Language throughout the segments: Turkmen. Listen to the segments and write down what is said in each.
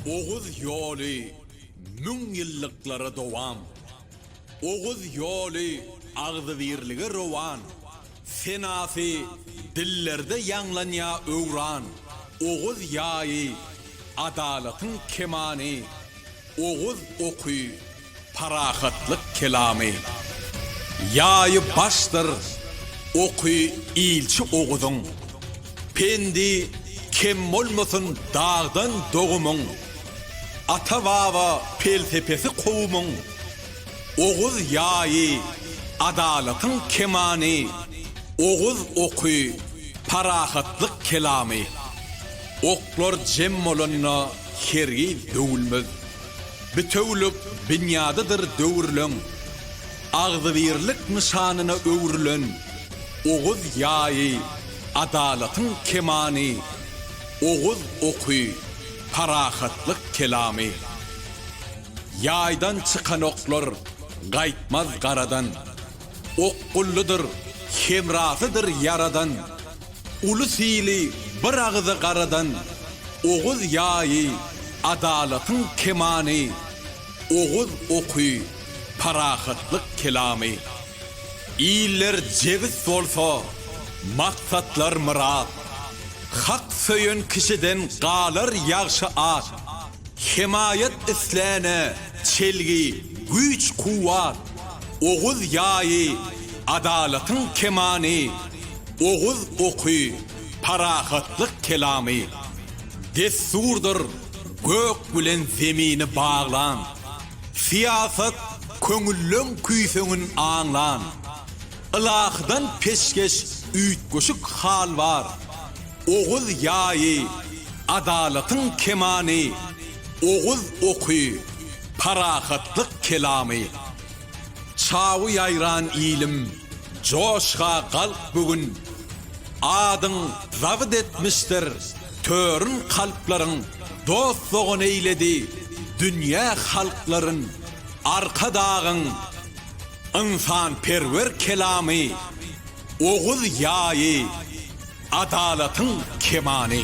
Oguz ýoly müň ýyllyklara dowam. Oguz ýoly agzybirlige rowan. Senasy dillerde ýaňlanýa öwran. Oguz ýaýy adalatyň kemany. Oguz oky Parahatlyk kelamy. Ýaýy başdyr oky ilçi Oguzyň. Pendi kem bolmasyn dagdan dogumyň. Ata-baba pelsepesi kowumyň. Oguz ýaýy adalatyň kemany, Oguz oky parahatlyk kelamy. Oklar jem bolanda hergiz döwülmez. Bitewülik binýadydyr döwürleň agzybirlik nyşanyna öwrülen Oguz ýaýy, adalatyň kemany, Oguz oky, parahatlyk kelamy. Ýaýdan çykan oklar gaýtmaz garadan, Okgullydyr, hemrasydyr Ýaradan. Uly sili bir agyza garadan Oguz ýaýy, adalatyň kemany, Oguz oky, parahatlyk kelamy. Iller jebis bolsa, maksatlar myrat, Hak söýen kişiden galar ýagşy at. Hemaýat islänä çelgi, güýç-kuwwat, Oguz ýaýy, adalatyň kemany. Oguz oky, parahatlyk kelamy, dessurdyr gök bilen zemini baglan, syýasat köňülleň küýseňin aňlan, ylahydan peşgeş üýtgeşik hal bar, Oguz ýaýy, adalatyň kemany, Oguz oky, parahatlyk kelamy, Çawy ýaýran ilim, joşga galk bu gün, Adyň zabyt etmişdir törün kalplaryň, Dost-dogan eýledi dünýä halklaryn, Arkadagyň ynsanperwer kelamy, Oguz ýaýy, adalatyň kemany.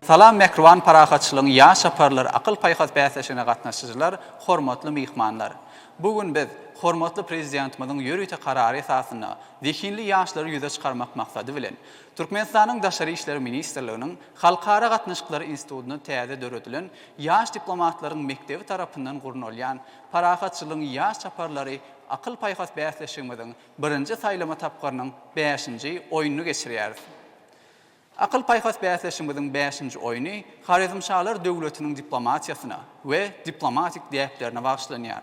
Salam Mähriban parahatçylygyň ýaş çaparlar akyl-paýhas bäsleşigine gatnaşyjylar, hormatly myhmanlar! Bu gün biz hormatly Prezidentimiziň ýörite karary esasynda zehinli ýaşlary ýüze çykarmak maksady bilen, Türkmenistanyň Daşary işler ministrliginiň Halkara gatnaşyklary institutynda täze döredilen Ýaş diplomatlaryň mekdebi tarapyndan gurnalýan Parahatçylygyň ýaş çaparlary akyl-paýhas bäsleşigimiziň birinji saýlama tapgyrynyň bäşinji oýnuny geçirýäris. Akyl-paýhas bäsleşigimiziň bäşinji oýny Horezmşalar döwletiniň diplomatiýasyna we diplomatik däplerine bagyşlanýar.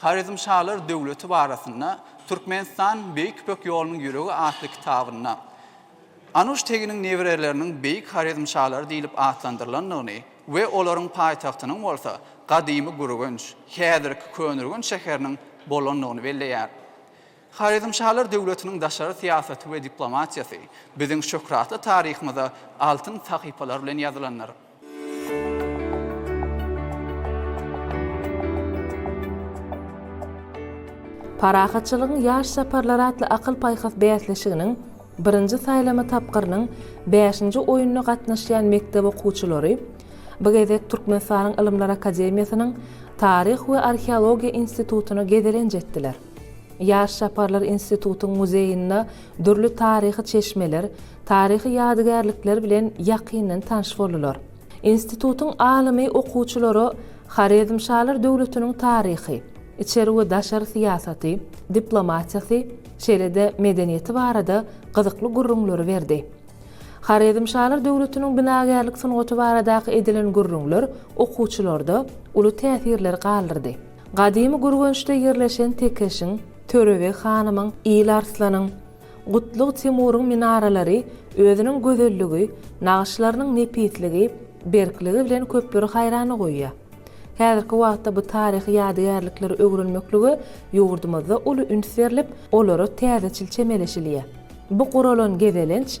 Horezmşalar döwleti barasynda Türkmenistan, Beýik Ýüpek ýolunyň ýüregi atly kitabynda Anuş teginiň nebereleriniň Beýik Horezmşalary diýlip atlandyrylandygyny we olaryň paýtagtynyň bolsa gadymy Gürgenç, häzirki Köneürgenç şäheriniň bolandygyny belleýär. Horezmşalar döwletiniň daşary syýasaty we diplomatiýasy biziň şöhratly taryhymyza altyn sahypalar bilen ýazylandyr. Parahatçylygyň ýaş çaparlary atly akyl-paýhas bäsleşiginiň birinji saýlama tapgyrynyň bäşinji oýnuna gatnaşýan mekdep okuwçylary bu gezek Türkmenistanyň Ylymlar akademiýasynyň Taryh we arheologiýa institutyna gezelenç etdiler. Ýaş çaparlar institutyň muzeýinde dürli taryhy çeşmeler, taryhy ýadygärlikler bilen ýakyndan tanyş boldular. Institutyň alymy okuwçylara Horezmşalar döwletiniň taryhy, içeri we daşary syýasaty, diplomatiýasy, şeýle-de medeniýeti barada gyzykly gürrüňleri berdi. Horezmşalar döwletiniň binagärlik sungaty baradaky edilen gürrüňler okuwçylarda uly täsirleri galdyrdy. Gadymy Gürgençde ýerleşen Tekeşiň, Törebeg hanymyň, Il Arslanyň, Gutlug Timuryň minaralary özüniň gözelligi, nagyşlarynyň nepisligi, berkligi bilen köpleri haýrana goýýar. Häzirki wagtda bu taryhy ýadygärlikleri öwrenmeklige ýurdumyzda uly üns berlip, olara täzeçil çemeleşilýär. Bu guralan gezelenç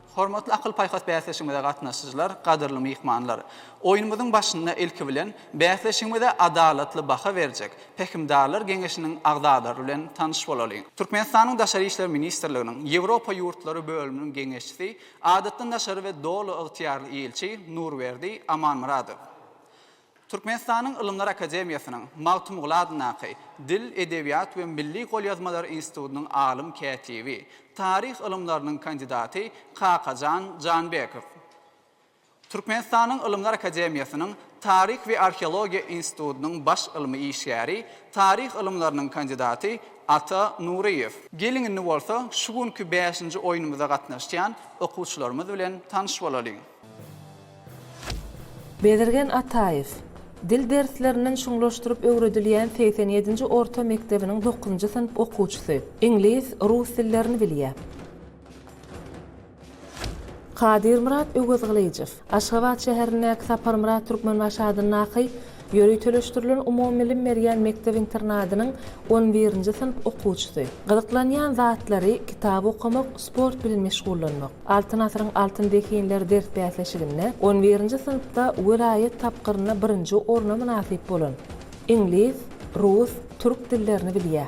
Hormatly akyl-paýhas bäsleşigimize gatnaşyjylar, gadyrly myhmanlar! Oýnumyzyň başynda ilki bilen, bäsleşigimize adalatly baha berjek Pähimdarlar geňeşiniň agzalary bilen tanyş bolalyň. Türkmenistanyň Daşary işler ministrliginiň Ýewropa ýurtlary bölüminiň geňeşçisi, Adatdan daşary we Doly ygtyýarly ilçi Nurberdi Amanmyradow. Türkmenistanyň Ylymlar akademiýasynyň Magtymguly adyndaky Dil, edebiýat we milli golýazmalar institutynyň alym kätibi, taryh ylymlarynyň kandidaty Kakajan Janbekow, Türkmenistanyň Ylymlar akademiýasynyň Taryh we arheologiýa institutynyň baş ylmy işgäri, taryh ylymlarynyň kandidaty Ata Nuryýew. Geliň indi bolsa şu günki bäşinji oýnumyza gatnaşýan okuwçylarymyz bilen tanyş bolalyň. Bezirgen Ataýew, Dil derslerinden çuňlaşdyryp öwredilýän segsen ýedinji orta mekdebiniň dokuzynjy synp okuwçysy. Iňlis, rus dillerini bilýär. Kadyrmyrat Öwezgylyjow, Aşgabat şäherindäki Saparmyrat Türkmenbaşy adyndaky Ýöriteleşdirilen umumybilim berýän mekdep-internadynyň on birinji synp okuwçysy. Gyzyklanýan zatlary, kitap okamak, sport bilen meşgullanmak. Altyn asyryň altyn zehinleri ders bäsleşiginde on birinji synpda welaýat tapgyrynda birinji orna mynasyp bolan. Iňlis, rus, türk dillerini bilýär.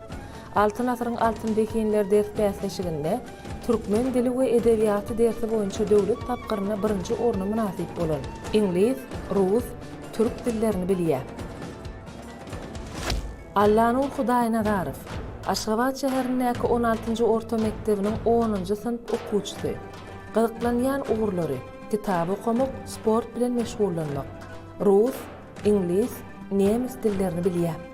Altyn asyryň altyn zehinleri ders bäsleşiginde Türkmen dili we edebiýaty dersi boýunça döwlet tapgyrynda birinji orna mynasyp bolan, iňlis, rus, türk dillerini bilýär. Allanur Hudaýnazarow, Aşgabat şäherindäki on altynjy orta mekdebiniň onunjy synp okuwçysy. Gyzyklanýan ugurlary, kitap okamak, sport bilen meşgullanmak. Rus, iňlis, nemes dillerini bilýär.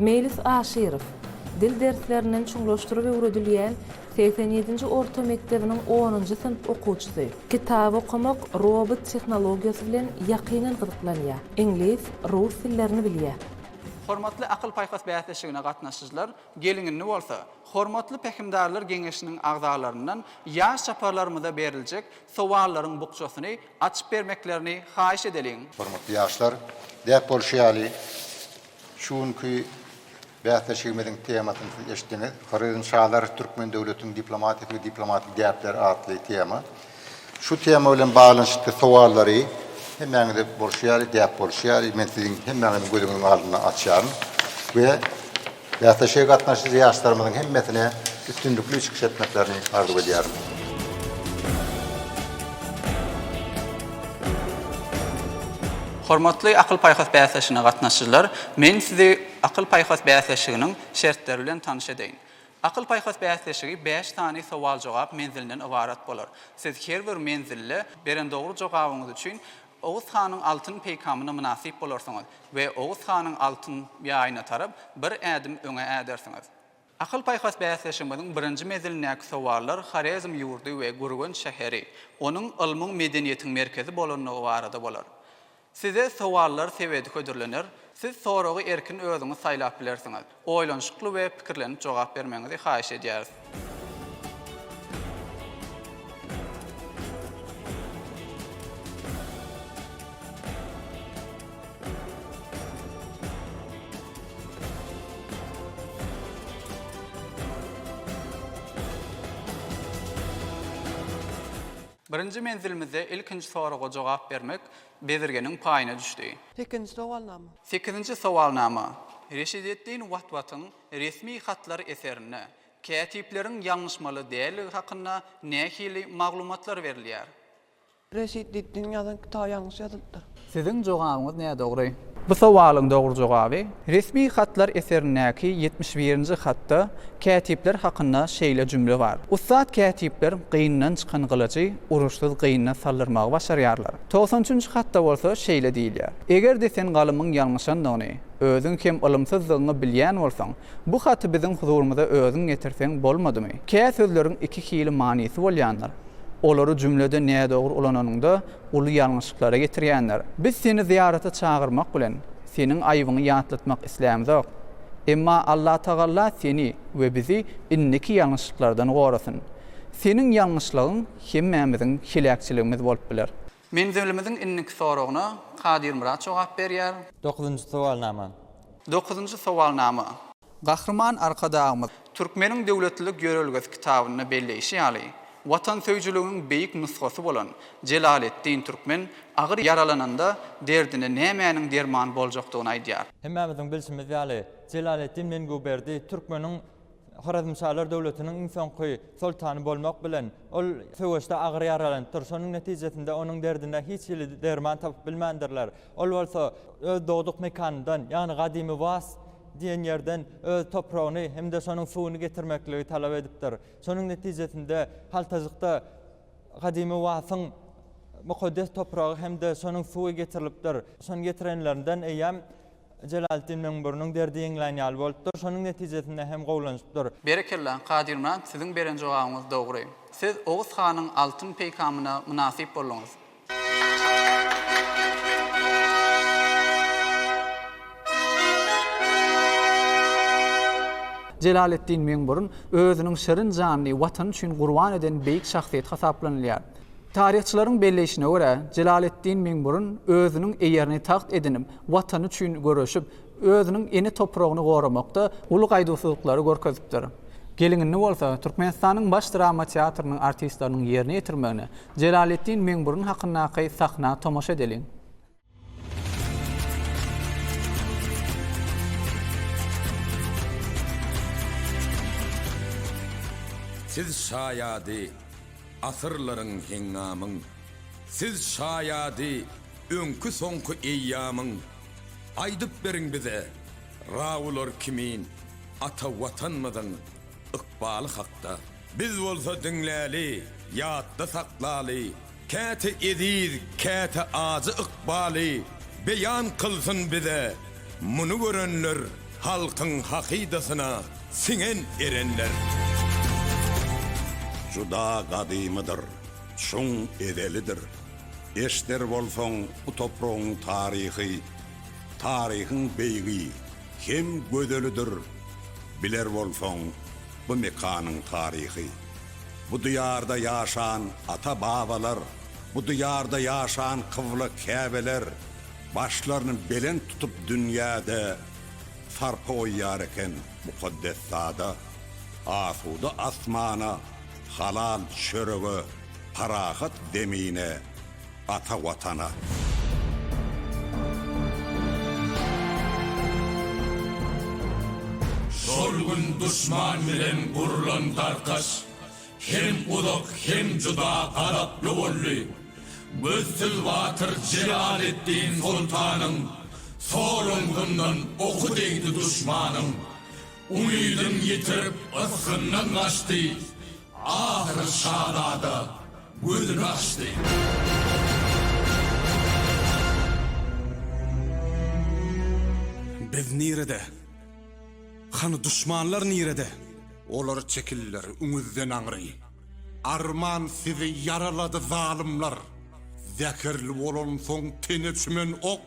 Meýlis Aşyrow, Dil derslerinden çuňlaşdyryp öwredilýän segsen ýedinji orta mekdebiniň onunjy synp okuwçysy. Kitap okamak, robot tehnologiýasy bilen ýakyndan gyzyklanýar. Iňlis, rus dillerini bilýär. Hormatly akyl-paýhas bäsleşigine gatnaşyjylar, gelin-indi bolsa, Hormatly Pähimdarlar geňeşiniň agzalaryndan ýaş çaparlarymyza beriljek sowallaryň bukjasyny açyp bermeklerini haýyş edeliň. Hormatly ýaşlar, däp bolşy ýaly, Şu günki bäsleşigimiziň temasyny siz eşitdiňiz. Horezm şalary türkmen döwletiniň diplomatik we diplomatik däpleri atly tema. Şu tema bilen baglanyşykly sowallary hemmäňize bolşy ýaly, däp bolşy ýaly men siziň hemmäňiziň gözüňiziň aldyna açýaryn we bäsleşige gatnaşyjy ýaşlarymyzyň hemmesine üstünlikli çykyş etmeklerini arzuw edýärin. Hormatly akyl-paýhas bäsleşigine gatnaşyjylar, men sizi akyl-paýhas bäsleşiginiň şertleri bilen tanyş edeýin. Akyl-paýhas bäsleşigi bäş sany sowal-jogap menzilinden ybarat bolar. Siz her bir menzilde beren dogry jogabyňyz üçin Oguz hanyň altyn peýkamyna mynasyp bolarsyňyz we Oguz hanyň altyn ýaýyna tarap bir ädim öňe ädersiňiz. Akyl-paýhas bäsleşigimiziň birinji mezilindäki sowallar Horezm ýurdy we Gürgenç şäheri, onuň ylmyň, medeniýetiň merkezi bolandygy barada bolar. Size sowallar sebedi hödürlener, siz soragy erkin özüňiz saýlap bilersiňiz. Oýlanyşykly we pikirlenip jogap bermegiňizi haýyş edýäris. Birinji menzilimizde ilkinji soraga jogap bermek Bezirgeniň paýyna düşdi. Sekizinji sowalnama. Sekizinji sowalnama. Reşideddin Watwatyň Resmi hatlar eserinde kätipleriň ýalňyşmaly däldigi hakynda nähili maglumatlar berilýär? Reşit Diddiniň ýazan kitaby ýalňyş ýazylypdyr. Siziň jogabyňyz nädogry. Bu sowalyň dogry jogaby Resmi hatlar eserindäki ýetmiş birinji hatda kätipler hakynda şeýle jümle bar, Ussat kätipler gynyndan çykan gylyjy uruşsyz gynyna saldyrmagy başarýarlar. Togsan üçünji hatda bolsa şeýle diýilýär, Eger-de sen galymyň ýalňyşandygyny, özüň hem ylymsyzdygyňy bilýän bolsaň, bu haty biziň huzurymyza özüň getirseň bolmadymy? Kä sözleriň iki hili manysy bolýandyr. Olary jümlede nädogry ulananyňda uly ýalňyşyklara getirýändir. Biz seni zyýarata çagyrmak bilen, seniň aýbyňy ýatlatmak islämzok. Emma Allatagalla seni we bizi indiki ýalňyşyklardan gorasyn. Seniň ýalňyşlygyň hemmämiziň heläkçiligimiz bolup biler. Menzilimiziň indiki soragyna Kadyrmyrat jogap berýär. Dokuzynjy sowalnama. Dokuzynjy sowalnama. Gahryman Arkadagymyz. Türkmeniň döwletlilik ýörelgesi kitabynda belleýşi ýaly, watansöýüjiligiň beýik nusgasy bolan Jelaleddin Türkmen agyr ýaralananda derdine nämäniň derman boljakdygyny aýdýar. Hemmämiziň bilşimiz ýaly, Jelaleddin Menguberdi Türkmeniň Horezmşalar döwletiniň iň soňky soltany bolmak bilen, ol söweşde agyr ýaralanypdyr. Şonuň netijesinde onuň derdine hiç hili derman tapyp bilmändirler. Ol bolsa öz dogduk mekanyndan, ýagny gadymy Was diýen ýerden öz topragyny hem-de şonuň suwuny getirmekligi talap edipdir. Şonuň netijesinde haltajykda gadymy Wasyň mukaddes topragy hem-de şonuň suwy getirilipdir. Şony getirenlerinden eýýäm Jelaletdin Möňbüriniň derdi ýeňlän ýaly bolupdyr, şonuň netijesinde hem gowlanypdyr. Berekella, Kadyrmyrat siziň beren jogabyňyz dogry. Siz Oguz hanyň altyn peýkamyna mynasyp bolduňyz. Jelaletdin Möňbürün özüniň şirin janyny Watany üçin gurban eden beýik şahsyýet hasaplanylýar. Taryhçylaryň belleýşine görä, Jelaletdin Möňbürün özüniň eýerini tagt edinip, Watany üçin göreşip, özüniň ene topragyny goramakda uly gaýduwsyzlyklary görkezipdir. Gelinini bolsa Türkmenistanyň Baş drama teatrynyň artistleriniň ýerine ýetirmegine Jelaletdin Meňburun hakyndaky sahna tomaşa edeliň. Siz şaýady asyrlaryň heňňamyň, Siz şaýady Öňki soňky eýýamyň Aýdyp beriň bize Raular kimin Ata Watanmyzyň ykbaly hakda. Biz bolsa diňläli Ýatda saklaly Käte eziz käte ajy ykbaly Beýan kylsyn bize muny görenler Halkyň hakydasyna siňen erenler. Juda gadymydyr, çuň ezelidir. Eşder bolsaň bu topragyň taryhy, taryhyň beýigi hem gözelidir, biler bolsaň bu mekanyň taryhy. Bu diýarda ýaşan ata-babalar, bu diýarda ýaşan kybla käbeler başlaryny belent tutup dünýäde sarpa goýýar eken mukaddes zada, asuda asmana, Halal çörege, parahat zemine, ata Watana! Şol gün duşman bilen gurlan tarkaş hem uzak, hem juda gazaply boldy. Gözsüz batyr Jelaleddin soltanyň sol oňundan oky degdi duşmanyň. Umydyn ýitirip, ysgyndan gaçdy, Ahyry şazada gözüni açdy. Biz nirede? Hany duşmanlar nirede? Olar çekildiler üňüzden aňry. Arman sizi ýaralady zalymlar. Zäherli bolansoň tene çümen ok,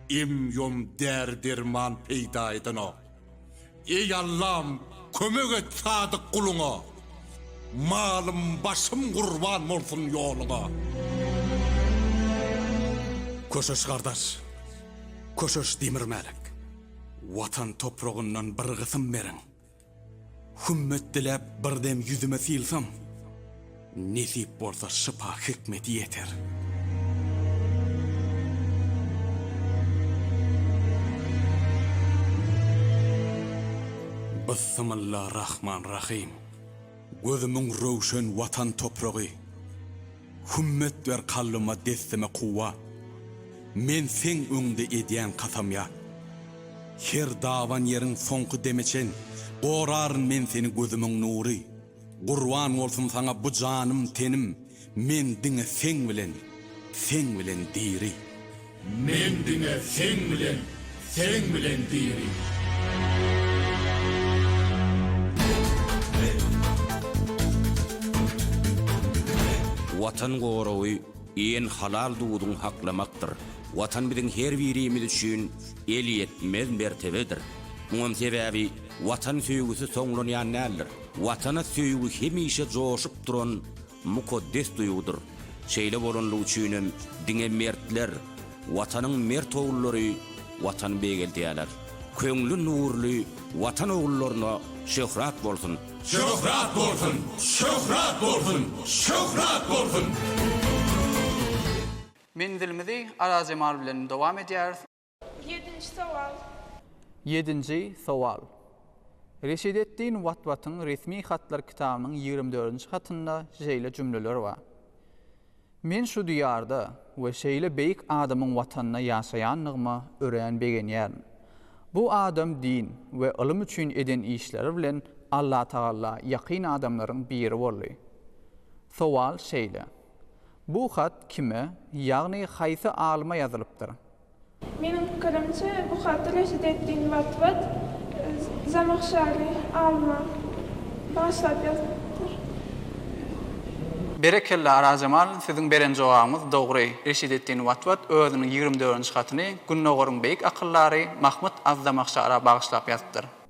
Em-ýom däri-derman peýda edenok. Eý Allam, kömek et sadyk guluňa, Malym, başym gurban bolsun ýoluňa. Köşeş gardaş, Köşeş Demirmälik, Watan topragyndan bir gysym beriň. Hümmet diläp bir dem ýüzüme sylsam. Nesip bolsa şypa hikmeti ýeter. Byssymylla Rahman Rahym Gözümiň röwşen Watan topragy Hümmet ber kalbyma dessime kuwwat Men seň öňde edýän kasamýat Her daban ýeriň soňky deme çen Goraryn men seni gözümiň nury Gurban bolsun saňa bu janym tenim men diňe seň bilen seň bilen diri. Men diňe seň bilen seň bilen diri. Watan goragy en halal duduň haklamakdyr. Watan biziň her birimiz üçin elýetmez mertebedir. Muňam sebäbi watan söýgüsi soňlanýan däldir. Watana söýgi hemişe joşup duran mukaddes duýgudyr. Şeýle bolanlygy üçin hem diňe mertler, Watanyň mert ogullary Watany beýgeldýärler. Köňli nurly Watan ogullaryna şöhrat bolsun! Şöhrat bolsun! Şöhrat bolsun! Şöhrat bolsun! Menzilimizi Arazjemal bilen dowam edýäris. Ýedinji sowal. Ýedinji sowal. Reşideddin Watwatyň Resmi hatlar kitabynyň ýigrimi dördünji hatynda şeýle jümleler bar, Men şu diýarda we şeýle beýik adamyň watanynda ýaşaýandygyma örän begenýärin. Bu adam din we ylym üçin eden işleri bilen Allatagalla ýakyn adamlaryň biri boldy. Sowal şeýle. Bu hat kime, ýagny haýsy alyma ýazylypdyr? Meniň pikirimçe, bu haty Reşideddin Watwat Zamahşary alyma bagyşlap ýazypdyr. Berekella Arazjemal siziň beren jogabyňyz dogry Reşideddin Watwat özüniň ýigrimi dördünji hatyny Gündogaryň beýik akyldary Mahmyt az-Zamahşara bagyşlap ýazypdyr.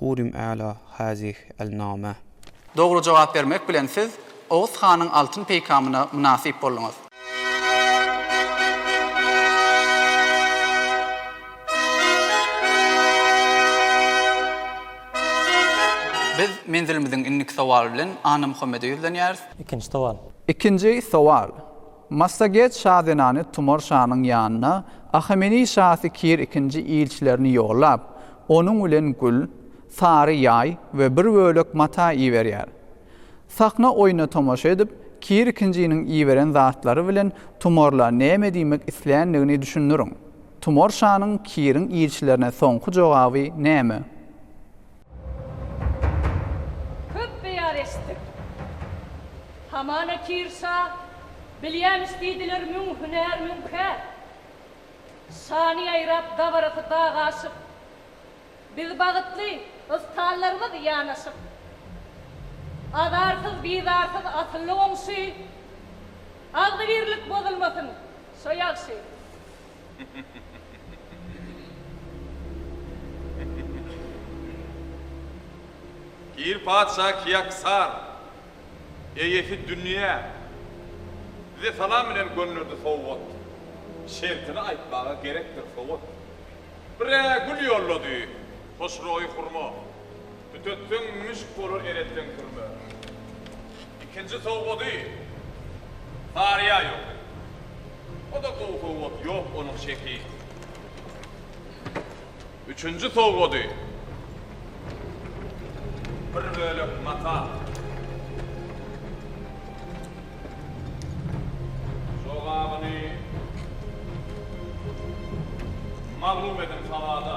Hurim A'la Hazih Al Name. Dogry jogap bermek bilen siz Oguz hanyň altyn peýkamyna mynasyp bolduňyz. Biz menzilimiziň indiki sowaly bilen Annamuhammede ýüzlenýäris. Ikinji sowal. Ikinji sowal. Massaget şa zenany Tumar şanyň ýanyna Ahameni şasy Kir ikinji ilçilerini ýollap, onuň bilen gül, sary ýaý we bir bölek mata iberýär. Sahna oýna tomaşa edip, Kir ikinjiniň iberen zatlary bilen Tumarla näme diýmek isländigini düşündiriň. Tumar şanyň Kiriň ilçilerine soňky jogaby näme? Köp beýan eşitdik. Hamana Kir şa bilýämiş diýdiler müň hünär müň kär. Şany ýaýrap dabarasy dag aşyp. Biz bagytly ystallarymyz ýanaşyp. Azarsyz bizarsyz asylly goňşy. Agzybirlik bozulmasyn şo ýagşy. Kir patyşa Kiaksar, eýesi Dünýä, size salam bilen gönderdi sowgat. Şertini aýtmaga gerekdir sowgat. Bir-ä gül ýollady, hoşroýy hurma. Tütetseň müşk bolar eretseň kürme. Ikinji sowgady Saryýa ýok. O-da gowy sowgat ýok onuň şeki. Üçünji sowgady bir bölek mata. Jogabyny maglum ediň sawada.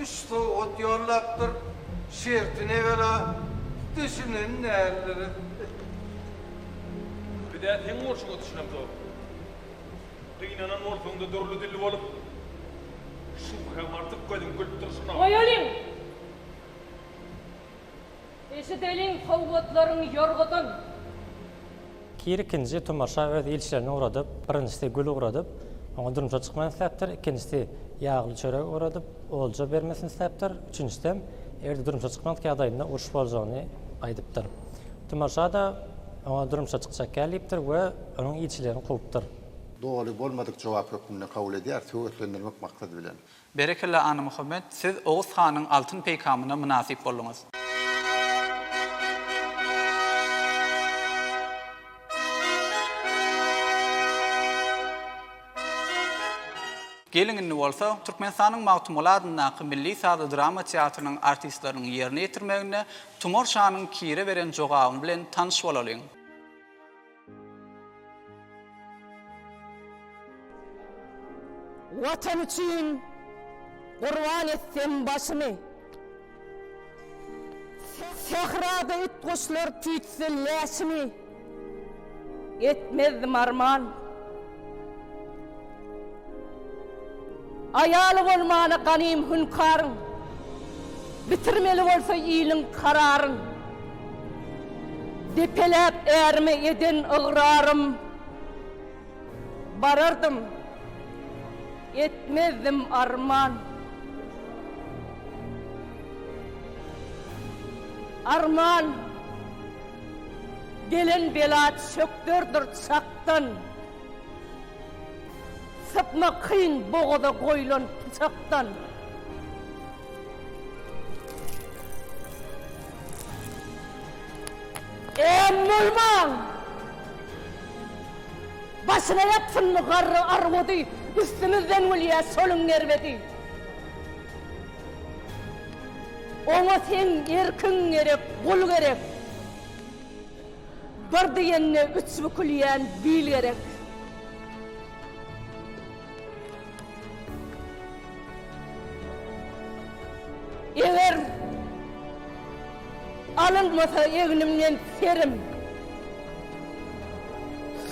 Üç sowgat ýollapdyr, şertini ebela düşünen däldiris. Biz-ä seň bolşuňa düşünemzok. Gynanan bolsaň-da dürli dilli bolup, şübhäm artyk gözüň gülüp durşuna. Goýalyň! Eşideliň sowgatlaryň ýorgadan. Kir ikinji tomaşa öz ilçilerini ugradyp, birinjisi gül ugradyp, oňa durmuşa çykmak isläpdir, ikinjisi ýagly çörek ugradyp, olja bermesini isläpdir, üçünjisem, eger-de durmuşa çykmadyk ýagdaýynda uruş boljagyny aýdypdyr. Tomaşa-da oňa durmuşa çykjak ýaly diýipdir we onuň ilçilerini kowupdyr. Doly bolmadyk jogap hökmünde kabul edýär, söwetlendirmek maksady bilen. Berekella Anymuhammet siz Oguz hanyň altyn peýkamyna mynasyp bolduňyz. Geliň indi bolsa Türkmenistanyň Magtymguly adyndaky milli sazy drama teatrynyň artistleriniň ýerine ýetirmeginde Tumar şanyň Kire beren jogaby bilen tanyş bolalyň. Watan üçin gurban etsem başymy. Sährada it-guşlar tüýtse läşimi. Etmezdim arman. Aýaly bolmana ganym hünkaryň, Bitirmeli bolsa iliň kararyn. Depeläp ärime eden ygrarym, Barardym, etmezdim arman. Arman, gelen bela çökderdir çak. Ýaşdan sypma kyn bogaza goýlan pyçakdan. Em bolmaň! Başyna ýapsynmy garry arwady, üstümizden gülýä şoluň gerbedi. Oňa seň erkiň gerek, gul gerek. Bir diýende üç bükülýän bil gerek. Eger alynmasa egnimden serim.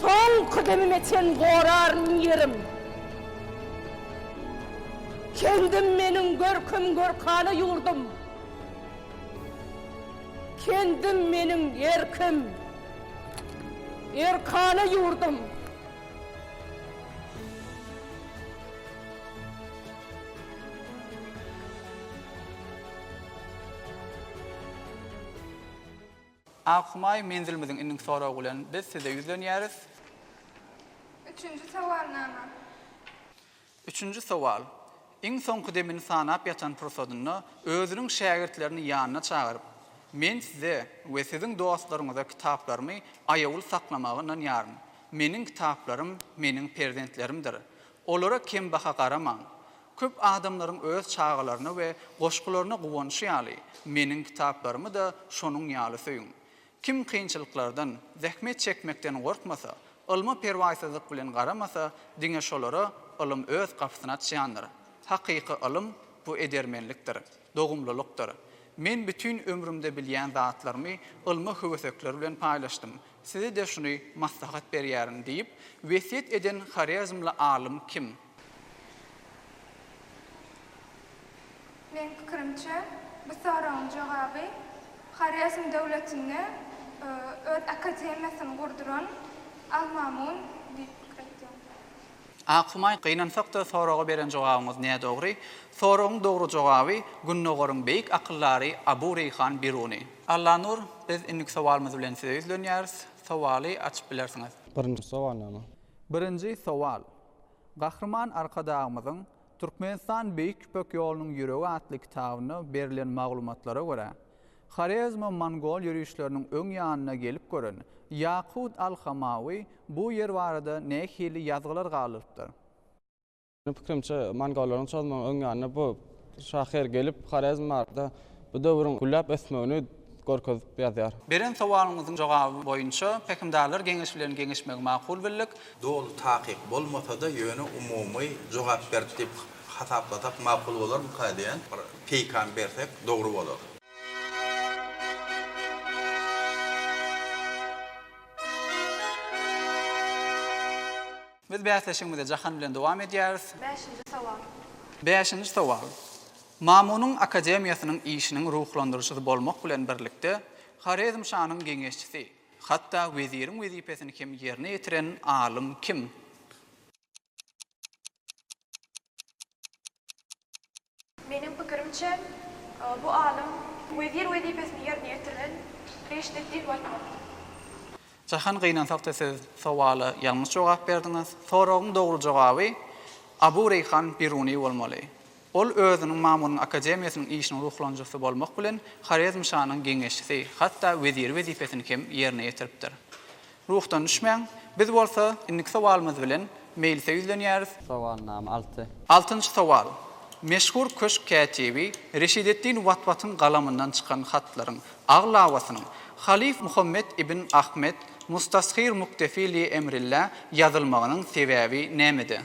Soňky demime çen goraryn ýerim. Kendim meniň görkem-görkana ýurdum. Kendim meniň erkim, erkana ýurdum. Ak Humaý menzilimiziň indiki soragy bilen biz size ýüzlenýäris. Üçünji sowalnama. Üçünji sowal. Iň soňky demini sanap ýatan pursadynda özüniň şägirtlerini ýanyna çagyryp, Men size we siziň dostlaryňyza kitaplarymy aýawly saklamaga ynanýaryn. Meniň kitaplarym meniň perzentlerimdir. Olara kembaha garamaň. Köp adamlaryň öz çagalaryna we goşgularyna guwanşy ýaly, meniň kitaplarymy-da şonuň ýaly söýüň. Kim kynçylyklardan, zähmet çekmekden gorkmasa, ylma perwaýsyzlyk bilen garamasa, diňe şolara ylym öz gapysyny açýandyr. Hakyky ylym, bu edermenlikdir, dogumlylykdyr. Men bütin ömrümde bilýän zatlarymy ylmy höwesekler bilen paýlaşdym. Size-de şuny maslahat berýärin, diýip, wesýet eden horezmli alym kim? Meniň pikirimçe, bu soragyň jogaby Horezm döwletinde öz akademiýasyny gurduran Al-Mamun diýip pikir edýän. Ak Humaý, gynansak-da soraga beren jogabyňyz nädogry. Soragyň dogry jogaby Gündogaryň beýik akyldary Abu Reýhan Biruny. Allanur, biz indiki sowalymyz bilen size ýüzlenýäris. Sowaly açyp bilersiňiz. Birinji sowal näme? Birinji sowal, Gahryman Arkadagymyzyň Türkmenistan Beýik Ýüpek ýolunyň ýüregi atly kitabynda berilen maglumatlara görä, Horezmo-mongol ýörişleriniň öň ýanyna gelip gören Ýakut al-Hamawy bu ýer barada nähili ýazgylar galdyrypdyr? Meniň pikirimçe, mongollaryň çozmagyň öň ýanynda bu Şahyr gelip Horezm barada bu döwrüň gülläp ösmegini görkezip ýazýar. Beren sowalyňyzyň jogaby boýunça Pähimdarlar geňeşi bilen geňeşmegi makul bildik. Doly takyk bolmasa-da, ýöne umumy jogap berdi diýip hasaplasak makul bolarmyka diýen bir peýkam bersek dogry bolar. Biz bäsleşigimize jahan bilen dowam edýäris. Bäşinji sowal. Bäşinji sowal. Mamunyň akademiýasynyň işiniň ruhlandyryjysy bolmak bilen birlikde, Horezm şanyň geňeşçisi, hatda weziriň wezipesini hem ýerine ýetiren alym kim? Meniň pikirimçe, bu alym wezir wezipesini ýerine ýetiren Reşdeddin Waýtmyrat. Jahan gynansakda siz sowala ýalňyş jogap berdiňiz. Soragyň dogry jogaby Abu Reýhan Biruny bolmaly. Ol özüniň Mamunyň akademiýasynyň işiniň ruhlanjysy bolmak bilen Horezmşanyň geňeşçisi, hatda weziri wezipesini hem ýerine ýetiripdir. Ruhdan düşmäň. Biz bolsa indiki sowalymyz bilen meýlise ýüzlenýäris. Sowalnama alty. Altynjy sowal. Meşhur köşk kätibi Reşideddin Watwatyň galamyndan çykan hatlaryň aglabasynyň halyf Muhammet ibn Ahmet Mustashir Muktefi li Emrillä ýazylmagynyň sebäbi nämede?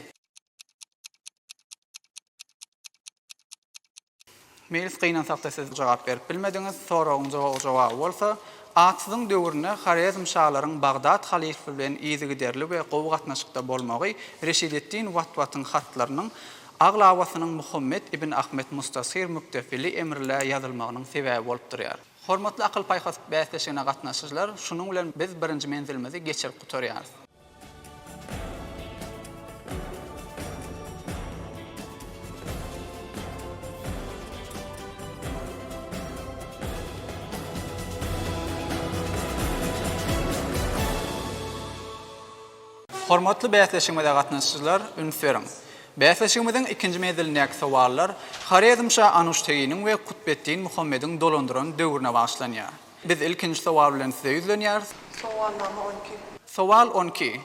Meýlis gynansakda siz jogap berip bilmediňiz, soragyň jogap jogaby bolsa, Atsyzyň döwründe Horezmşalaryň Bagdat halyfy bilen yzygiderli we gowy gatnaşykda bolmagy Reşideddin Watwatyň hatlarynyň aglabasynyň Muhammet ibn Ahmet Mustashir Mukdefili Emrlä ýazylmagynyň sebäbi bolup durýar. Hormatly akyl-paýhas bäsleşigine gatnaşyjylar, şunuň bilen biz birinji menzilimizi geçirip gutarýarys. Hormatly bäsleşigimize gatnaşyjylar, üns beriň! Bäsleşigimiziň ikinji menzilindäki sowallar Horezmşa Anuşteginiň we Kutbeddin Muhammediň dolandyran döwrüne bagyşlanýar. Biz ilkinji sowal bilen size ýüzlenýäris. Sowalnama on iki. Sowal on iki.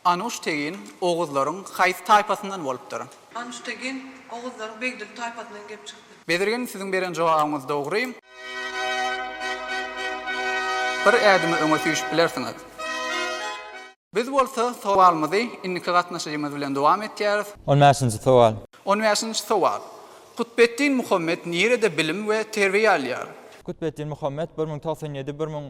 Anuştegin oguzlaryň haýsy taýpasyndan bolupdyr? Anuştegin oguzlaryň begdil taýpasyndan gelip çykdy. Bezirgen, siziň beren jogabyňyz dogry. Bir ädimi öňe süýşüp bilersiňiz. Biz bolsa sowalymyzy indiki gatnaşyjymyz bilen dowam etýäris. On bäşinji sowal. On bäşinji sowal. Kutbetdin Muhammet nirede bilim we terbiýe alýar? Kutbetdin Muhammet bir müň togsan ýedi, bir müň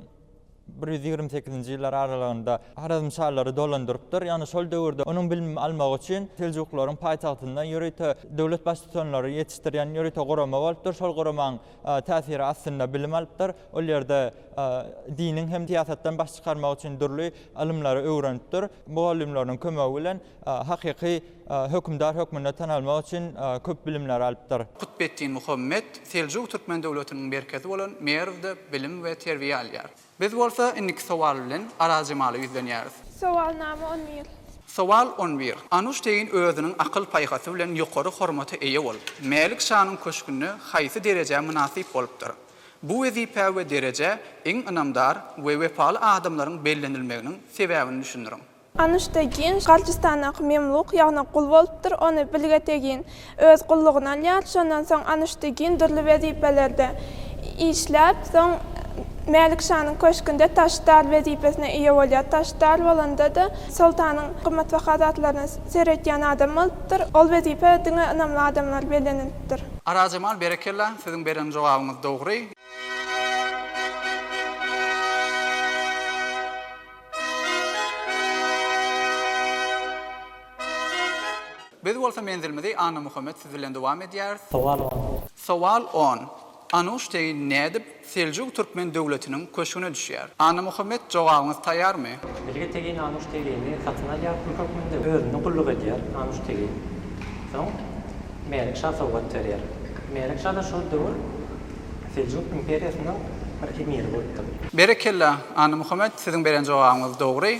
bir ýüz ýigrimi sekizinji ýyllar aralygynda Horezmşalary dolandyrypdyr. Ýagny şol döwürde onuň bilim almagy üçin Seljuklaryň paýtagtynda ýörite döwlet baştutanlary ýetişdirýän ýörite gurama bolupdyr. Şol guramaň täsiri astynda bilim alypdyr. Ol ýerde diniň hem syýasatdan baş çykarmak üçin dürli ylymlary öwrenipdir. Mugallymlarynyň kömegi bilen hakyky hökümdar hökmünde tanalmak üçin köp bilimler alypdyr. Kutbetdin Muhammet Seljuk türkmen döwletiniň merkezi bolan Merwde bilim we terbiýe alýar. Biz bolsa indiki sowal bilen Arazjemala ýüzlenýäris. Sowalnama on bir. Sowal on bir. Anuş tegin özüniň akyl-paýhasy bilen ýokary hormata eýe bolup, Mälik şanyň köşgünde haýsy derejä mynasyp bolupdyr? Bu wezipä we derejä iň ynamdar we wepaly adamlaryň bellenilmeginiň sebäbini düşündiriň. Anuşta Ginj Garjistandaky memluk, ýagny gul bolupdyr, ony Bilgete Gin öz gullugyna alýar. Şondan soň Anuşta Gin dürli wezipelerde işläp, soň Mälik şanyň köşgünde taşdar wezipesine eýe bolýar. Taşdar bolanda-da, soltanyň gymmatbaha zatlaryna seretýän adam bolupdyr. Ol wezipä diňe ynamly adamlar bellenilipdir. Arajemal berekella siziň beren jogabyňyz dogry. Biz bolsa menzilimizi Annamuhammet siz bilen dowam edýäris. Sowal on. Sowal on. Anuş teýin nädip Seljuk türkmen döwletiniň köşgüne düşýär. Annamuhammet jogabyňyz taýýarmy? Bilge Tegin Anuş Tegini satyn alýar, pul hökmünde özüne gulluk edýär. Anuş Tegin. Soň Mälik şa sowgat berýär. Mälik şa-da şol döwür Seljuk imperiýasynyň bir emiri bolupdyr. Berekella, Annamuhammet, siziň beren jogabyňyz dogry.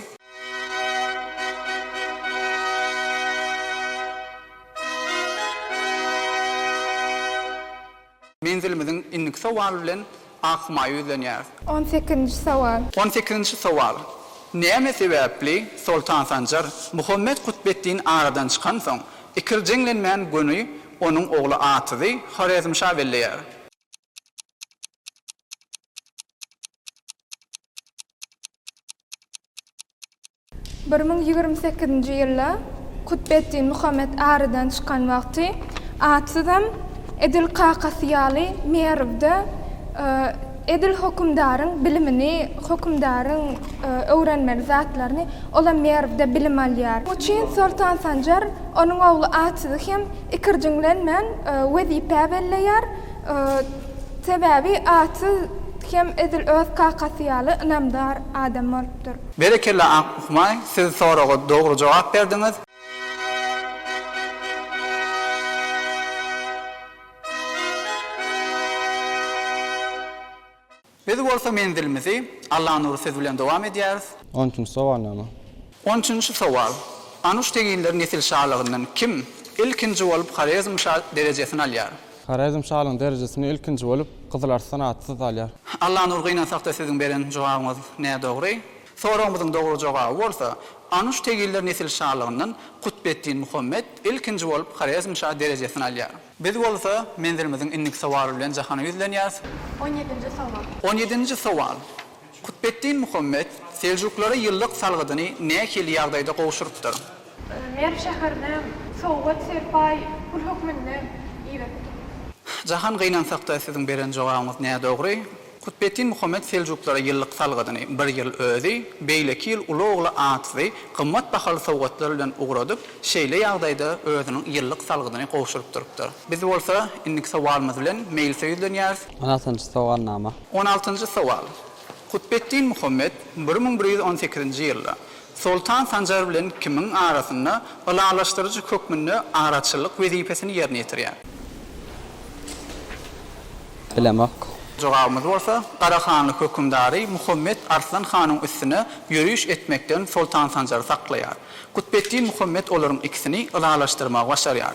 Menzilimiziň indiki sowaly bilen Akhumaýa ýüzlenýäris. On sekizinji sowal. On sekizinji sowal. Näme sebäpli Soltan Sanjar Muhammet Kutbeddin aradan çykansoň, ikirjeňlenmän göni onuň ogly Atyzy Horezmşa belleýär? Bir müň ýigrimi sekizinji ýylda Kutbeddin Muhammet aradan çykan wagty Atsyzam edil kakasy ýaly Merwde edil hökümdaryň bilimini, hökümdaryň öwrenmeli zatlaryny olam Merwde bilim alýar. Bu çyn Soltan Sanjar onuň ogly Atsyzy hem ikirjiňlenmän wezipä belleýär. Sebäbi Atsyz hem edil öz kakasy ýaly ynamdar adam bolup. bolupdyr. Berekella Ak Ukmay, siz soraga dogry jogap berdiňiz. Biz bolsa menzilimizi Allanury siz bilen dowam edýäris. On üçünji sowal näme? On üçünji sowal. Anuş teginler nesil şalygyndan kim ilkinji bolup Horezmşa derejesini alýar? Horezm şalygyň derejesini ilkinji bolup Gyzyl Arslan atly saz alýar. Allanur gynansakda siziň beren jogabyňyz nädogry. Soragymyzyň dogry jogaby bolsa, Anuş tegiller nesil şalygyndan Kutbeddin Muhammet ilkinji bolup Horezm şa derejesini alýar. Biz bolsa menzilimiziň indiki sowaly bilen jahana ýüzlenýäris. On ýedinji sowal. On ýedinji sowal. Kutbeddin Muhammet seljuklara ýyllyk salgydyny nähili ýagdaýda gowşurypdyr? Merw şäherine sowgat serpaý pul hökmünde iberipdir. Jahan gynansakda siziň beren jogabyňyz nädogry. Kutbeddin Muhammet seljuklara ýyllyk salgydyny bir ýyl özi, beýleki ýyl uly ogly Atsy gymmat bahaly sowgatlar bilen ugradyp, şeýle ýagdaýda özüniň ýyllyk salgydyny gowşuryp durupdyr. Biz bolsa indiki sowalymyz bilen meýlisä ýüzlenýäris. On altynjy sowalnama. On altynjy sowal. Kutbetdin Muhammet bir müň bir ýüz on sekizinji ýylda Soltan Sanjar bilen kimiň arasynda ylalaşdyryjy hökmünde araçyllyk wezipesini ýerine ýetirýär? Bilemok. Jogabymyz bolsa, Garahanly hökümdary Muhammet Arslan hanyň üstüne ýöriş etmekden Soltan Sanjary saklaýar. Kutbetdin Muhammet olaryň ikisini ylalaşdyrmagy başarýar.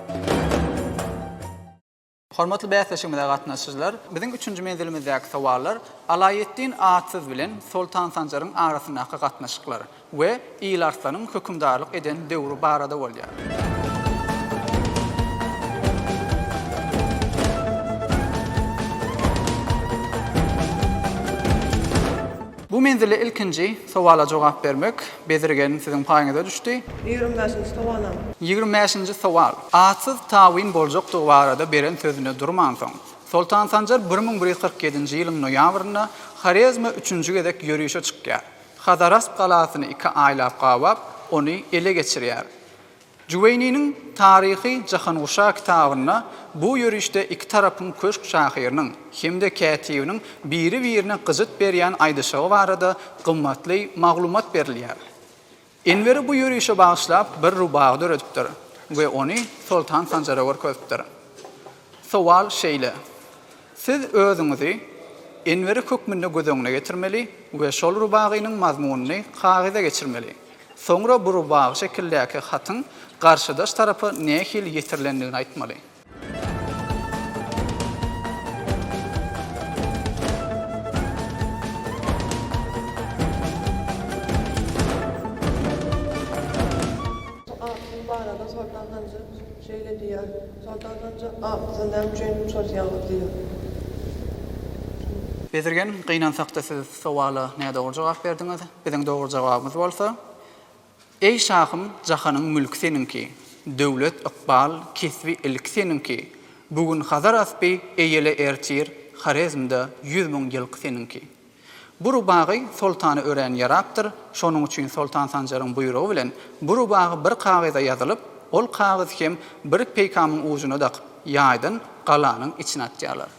Hormatly bäsleşigimize gatnaşyjylar, biziň üçünji menzilimizdäki sowallar Alaýeddin Atsyz bilen Soltan Sanjaryň arasyndaky gatnaşyklar we Il Arslanyň hökümdarlyk eden döwri barada bolýar. Bu menzilde ilkinji sowala jogap bermek Bedir gelin siziň paýyňyza düşdi. Ýigrimi bäşinji sowalam. Ýigrimi bäşinji sowal. Atsyz tabyn boljakdygy barada beren sözünde durmansoň, Soltan Sanjar bir müň bir ýüz kyrk ýedinji ýylyň noýabrynda Horezme üçünji gezek ýörüşe çykýar. Hazarasp galasyny iki aýlap gabap, ony ele geçirýär. Juweýniniň Taryhy Jahanguşa kitabynda bu ýörişde iki tarapyň köşk şahyrynyň hem-de kätibiniň biri-birine gyjyt berýän aýdyşygy barada gymmatly maglumat berilýär. Enweri bu ýörişe bagyşlap bir rubagy döredipdir we ony Soltan Sanjara görkezipdir. Sowal şeýle, Siz özüňizi Enweri hökmünde göz öňüne getirmeli we şol rubagynyň mazmunyny kagyza geçirmeli. Soňra bu rubagy şekildäki hatyň garşydaş tarapa nähili ýetirilendigini aýtmaly. Agtyň barada Soltan Hanja şeýle diýýär, Soltan Hanja agtyny näme üçin şol ýaly diýýär? Bezirgen, Gynansakda siz sowala nädogry jogap berdiňiz. Biziň dogry jogabymyz bolsa, Eý şahym, jahanyň mülki seniňki, döwlet, ykbal, kesbi, ilki seniňki, bu gün Hazar aspy, eýele ertir Horezmde ýüz müň ýylky seniňki. Bu rubagy soltana örän ýarapdyr, şonuň üçin Soltan Sanjaryň buýrugy bilen bu rubagy bir kagyza ýazylyp, ol kagyz hem bir peýkamyň ujuna dakyp, ýaýdan galanyň içine atýarlar.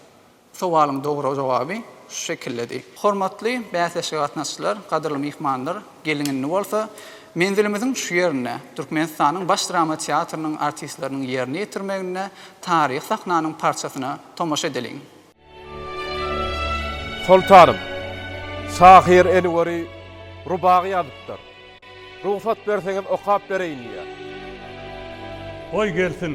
Sowalyň dogry jogaby şu şekildedi. Hormatly bäsleşige gatnaşyjylar, gadyrly myhmanlar, geliň indi bolsa menzilimiziň şu ýerinde, Türkmenistanyň Baş drama teatrynyň artistleriniň ýerine ýetirmeginde taryhy sahnanyň parçasyna tomaşa edeliň. Soltanym, şahyr Enweri rubagy ýazypdyr. Rugsat berseňiz okap bereýin diýýär. Goý gelsin.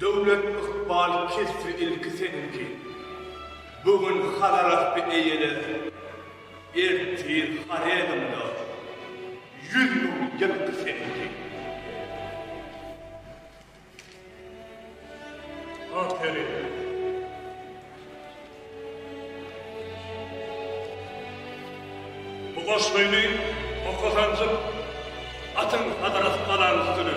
Döwlet ykbal kesbi ilki seniňki. Bu gün Hazarasby eýlär, ertir Horezmda ýüz müň ýylky seniňki. Aferin! Bu goşgyny oka sanjyp atyň Hazarasby alaň üstüne.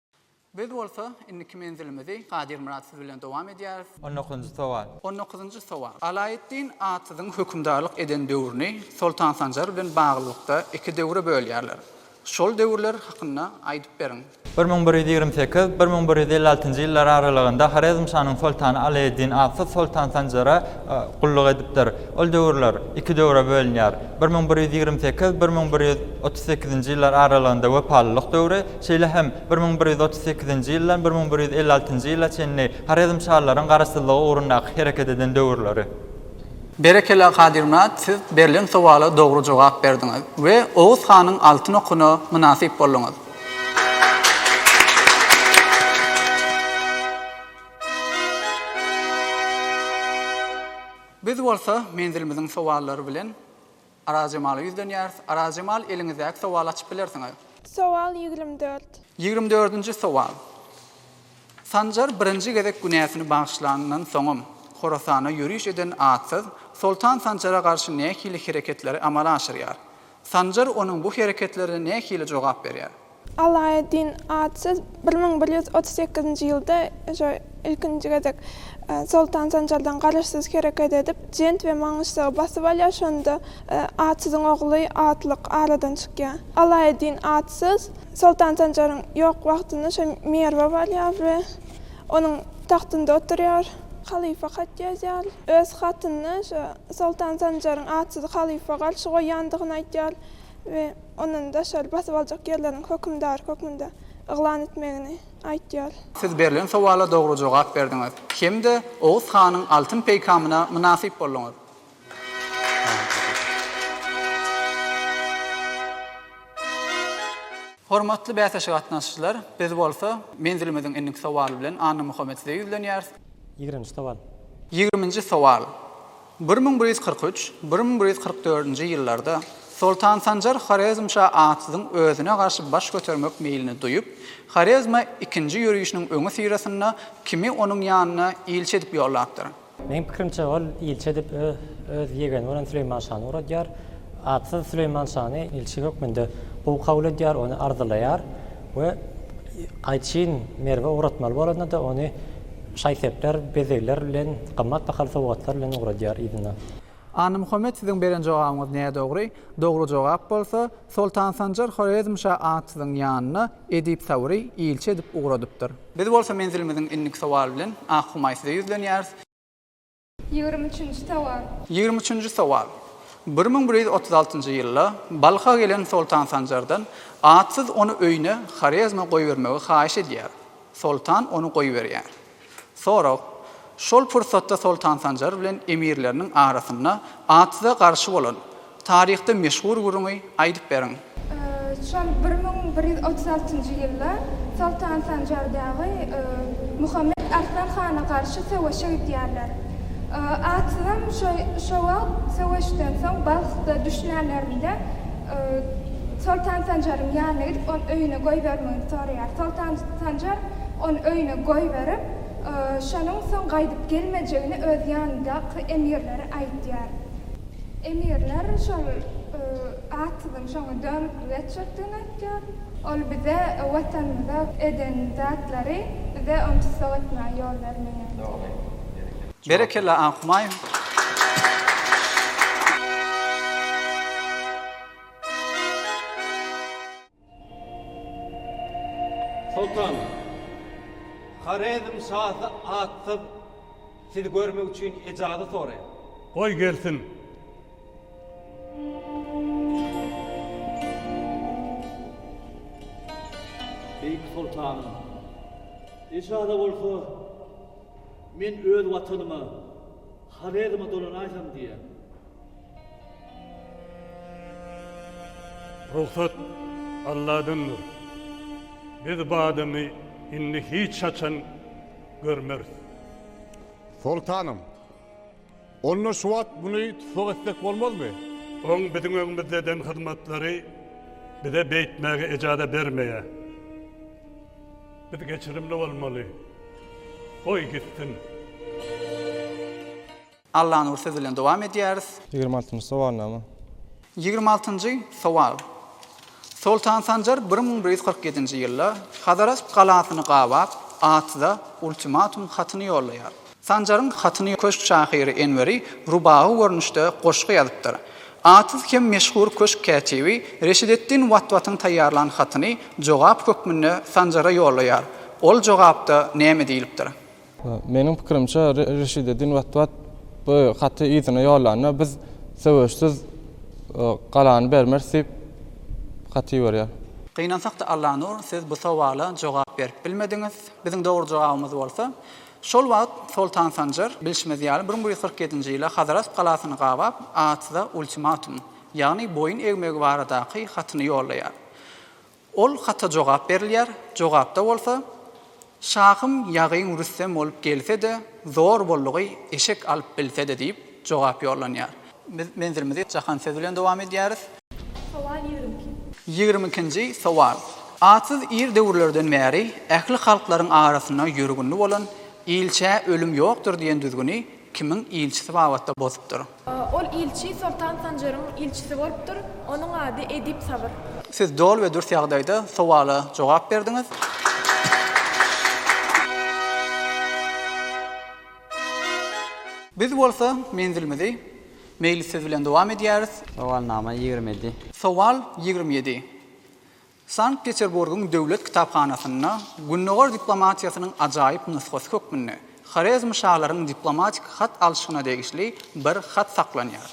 Biz bolsa indiki menzilimizi Gadyrmyrat siz bilen dowam edýäris. On dokuzynjy sowal. On dokuzynjy sowal. Alaeddin Atyzyň hökümdarlyk eden döwrüni Soltan Sanjar bilen baglylykda iki döwre bölýärler. Şol döwürler hakynda aýdyp beriň. Bir müň bir ýüz ýigrimi sekiz, bir müň bir ýüz elli altynjy ýyllar aralygynda Horezmşanyň soltany Alaeddin Atyz Soltan Sanjara gulluk edipdir. Ol döwürler iki döwre bölünýär. Bir müň bir ýüz ýigrimi sekiz, bir müň bir ýüz otuz sekizinji ýyllar aralygynda wepalylyk döwri, Şeýle hem, bir müň bir ýüz otuz sekizinji ýyldan bir müň bir ýüz elli altynjy ýyla çenli horezmşalaryň garaşsyzlygy ugrundaky hereket eden döwürleri. Berekela Kadyrmyrat siz berlen sowala dogry jogap berdiňiz we Oguz hanyň altyn okuna mynasyp bolduňyz. Biz bolsa menzilimiziň sowallary bilen Arazjemala ýüzlenýäris. Arazjemal, eliňizdäki sowaly açyp bilersiňiz. Sowal ýigrimi dört. Ýigrimi dördünji sowal. Sanjar birinji gezek günäsini bagyşlanyndan soňam, Horasana ýöriş eden atsyz Soltan Sanjara garşy nähili hereketleri amala aşyrýar? Sanjar onuň bu hereketlerine nähili jogap berýär? Alaeddin Atsyz bir müň bir ýüz otuz sekizinji ýylda şu ilkinji gezek Soltan Sanjardan garaşsyz hereket edip, Jent we Maňyşzagy basyp alýar, şonda Atsyzyň ogly Atlyk aradan çykýar. Alaeddin Atsyz Soltan Sanjaryň ýok wagtyna şu Merwe barýar we onuň tagtynda oturýar. Halypa hat ýazýar. Öz hatynda şu Soltan Sanjaryň Atsyzy halypa garşy goýýandygyny aýdýar we. ondan daşary basyp aljak ýerleriň hökümdary hökmünde yglan etmegini aýtýar. Siz berlen sowala dogry jogap berdiňiz hem-de Oguz hanyň altyn peýkamyna mynasyp bolduňyz. Hormatly bäsleşige gatnaşyjylar, biz bolsa menzilimiziň indiki sowaly bilen Annamuhammet size ýüzlenýäris. Ýigririnji sowal. Ýigriminji sowal. Bir müň bir ýüz kyrk üç, bir müň bir ýüz kyrk dördünji ýyllarda Soltan Sanjar Horezmşa atsyzyň özüne garşy baş götermek meýlini duýup, Horezme ikinji ýörişiniň öňüsyrasynda kimi onuň ýanyna ilçi edip ýollapdyr. Meň pikirimçe, ol ilçi edip öz ýegeni bolan Süleýman şany ugradýar. Atsyz Süleýman şany ilçi hökmünde gowy kabul edýär, ony arzylaýar we gaýçyn Merwe ugratmaly bolanda-da, ony Şaý-sepler, bezegler bilen, gymmat bahaly sowgatlar bilen ugradýar yzyna. Annamuhammet siziň beren jogabyňyz nädogry, dogry jogap bolsa, Soltan Sanjar Horezmşa at siziň ýanyna Edip Sabury ilçi edip ugradypdyr. Biz bolsa menzilimiziň indiki sowaly bilen Ak Humaý size ýüzlenýäris. Ýigrimi üçünji sowal. Ýigrimi üçünji sowal. Bir müň bir ýüz otuz altynjy ýylda Balha gelen Soltan Sanjardan Atsyz ony öýüne Horezme goýbermegi haýyş edýär. Soltan ony goýberýär. Sorag, Şol pursatda Soltan Sanjar bilen emirleriniň arasynda Atsyza garşy bolan Taryhda meşhur gürrüňi aýdyp beriň. Şol bir müň bir ýüz otuz altynjy ýylda Soltan Sanjar dagy Muhammet Arslan hana garşy söweşe gidýärler. Atsyzam şo wagt söweşden soň Balhda düşlänlerinde Soltan Sanjaryň ýanyna gidip ony öýüne goýbermegini soraýar. Soltan Sanjar ony öýüne goýberip, şonuň soň gaýdyp gelmejegini öz ýanyndaky emirlere aýdýar. Emirler şol atsyzyň şoňa dönüklik etjekdigini aýtýar. Ol bize Watanymyza eden zatlary bize ony tussag etmäge ýol bermeýär diýýär. Berekella An Humaýun. Soltan, Horezm şasy atsyz sizi görmek üçin ejazy soraýar. Goý, gelsin. Beýik soltanym, ejaza bolsa men öz watanyma, Horezme dolanaýsam diýýän. Rugsat Alladyndyr. Biz bu adamy indi hiç haçan görmeris. Soltanym, onda şu wagt muny tussag etsek bolmazmy? Oň biziň öňümizde eden hyzmatlary bize beýtmäge ejaza bermeýär. Biz geçirimli bolmaly. Goý gitsin. Allanur söz bilen dowam edýäris. Ýigrimi altynjy sowal näme? Ýigrimi altynjy sowal. Soltan Sanjar bir müň bir ýüz kyrk ýedinji ýylda Hazarasp galasyny gabap, Atyza ultimatum hatyny ýollaýar. Sanjaryň hatyny köşk şahyry Enweri rubagy görnüşde goşgy ýazypdyr. Atyz hem meşhur köşk kätibi Reşideddin Watwatyň taýýarlan hatyny jogap hökmünde Sanjara ýollaýar. Ol jogapda näme diýlipdir? Meniň pikirimçe, Reşideddin Watwat bu haty yzyna ýollanda, biz söweşsiz galany bermeris diýip hat iberýär. Gynansak-da Allanur, siz bu sowala jogap berip bilmediňiz. Biziň dogry jogabymyz bolsa, şol wagt Soltan Sanjar, bilşimiz ýaly, bir müň ýüz kyrk ýedinji ýyla Hazarasp galasyny gabap, atsyza ultimatum, ýagny boýun egmegi baradaky hatyny ýollaýar. Ol hata jogap berilýär, jogapda bolsa, Şahym ýagyn rüstem bolup gelse-de, zor boldugy eşek alyp bilse-de diýip jogap ýollanýar. Biz menzilimizi Jahan sözi bilen dowam edýäris. Sowal ýigrimi iki. Ýigrimi ikinji sowal. Atsyz ir döwürlerden bäri ähli halklaryň arasynda ýörgünli bolan Ilçä ölüm ýokdur diýen düzgüni kimiň ilçisi babatda bozupdyr? Ol ilçi Soltan Sanjaryň ilçisi bolupdyr. Onuň ady Edip Sabyr. Siz doly we dürs ýagdaýda sowala jogap berdiňiz. Biz bolsa menzilimizi Meýlis siz bilen dowam edýäris. Sowalnama ýigrimi ýedi. Sowal ýigrimi ýedi. Sankt-Peterburgyň döwlet kitaphanasynda Gündogar diplomatiýasynyň ajaýyp nusgasy hökmünde horezmşalaryň diplomatik hat alşygyna degişli bir hat saklanýar.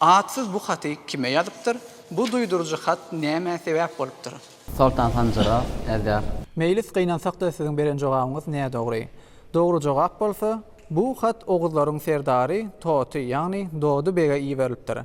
Atsyz bu haty kime ýazypdyr, bu duýduryjy hat nämä sebäp bolupdyr? Soltan Sanjara äwdäp. Meýlis gynansak-da siziň beren jogabyňyz nädogry. Dogry jogap bolsa, bu hat oguzlaryň serdary Toty, ýagny Dody bege iberilipdir.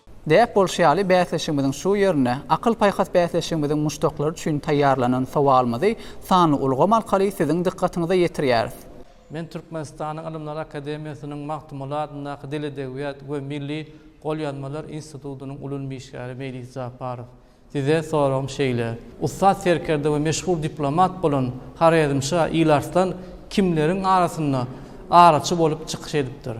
Däp bolşy ýaly, bäsleşigimiziň şu ýerine Akyl-paýhas bäsleşigimiziň muşdaklary üçin taýýarlanan sowalymyzy sanly ulgam arkaly siziň dykgatyňyza ýetirýäris. Men Türkmenistanyň Ylymlar akademiýasynyň Magtymguly adyndaky Dil-edebiýat we milli golýazmalar institutynyň ulum işgäri Meýlis Japarow. Size soragym şeýle, ussat serkerde we meşhur diplomat bolan Horezmşa Ilarslan kimleriň arasynda araçy bolup çykyş edipdir?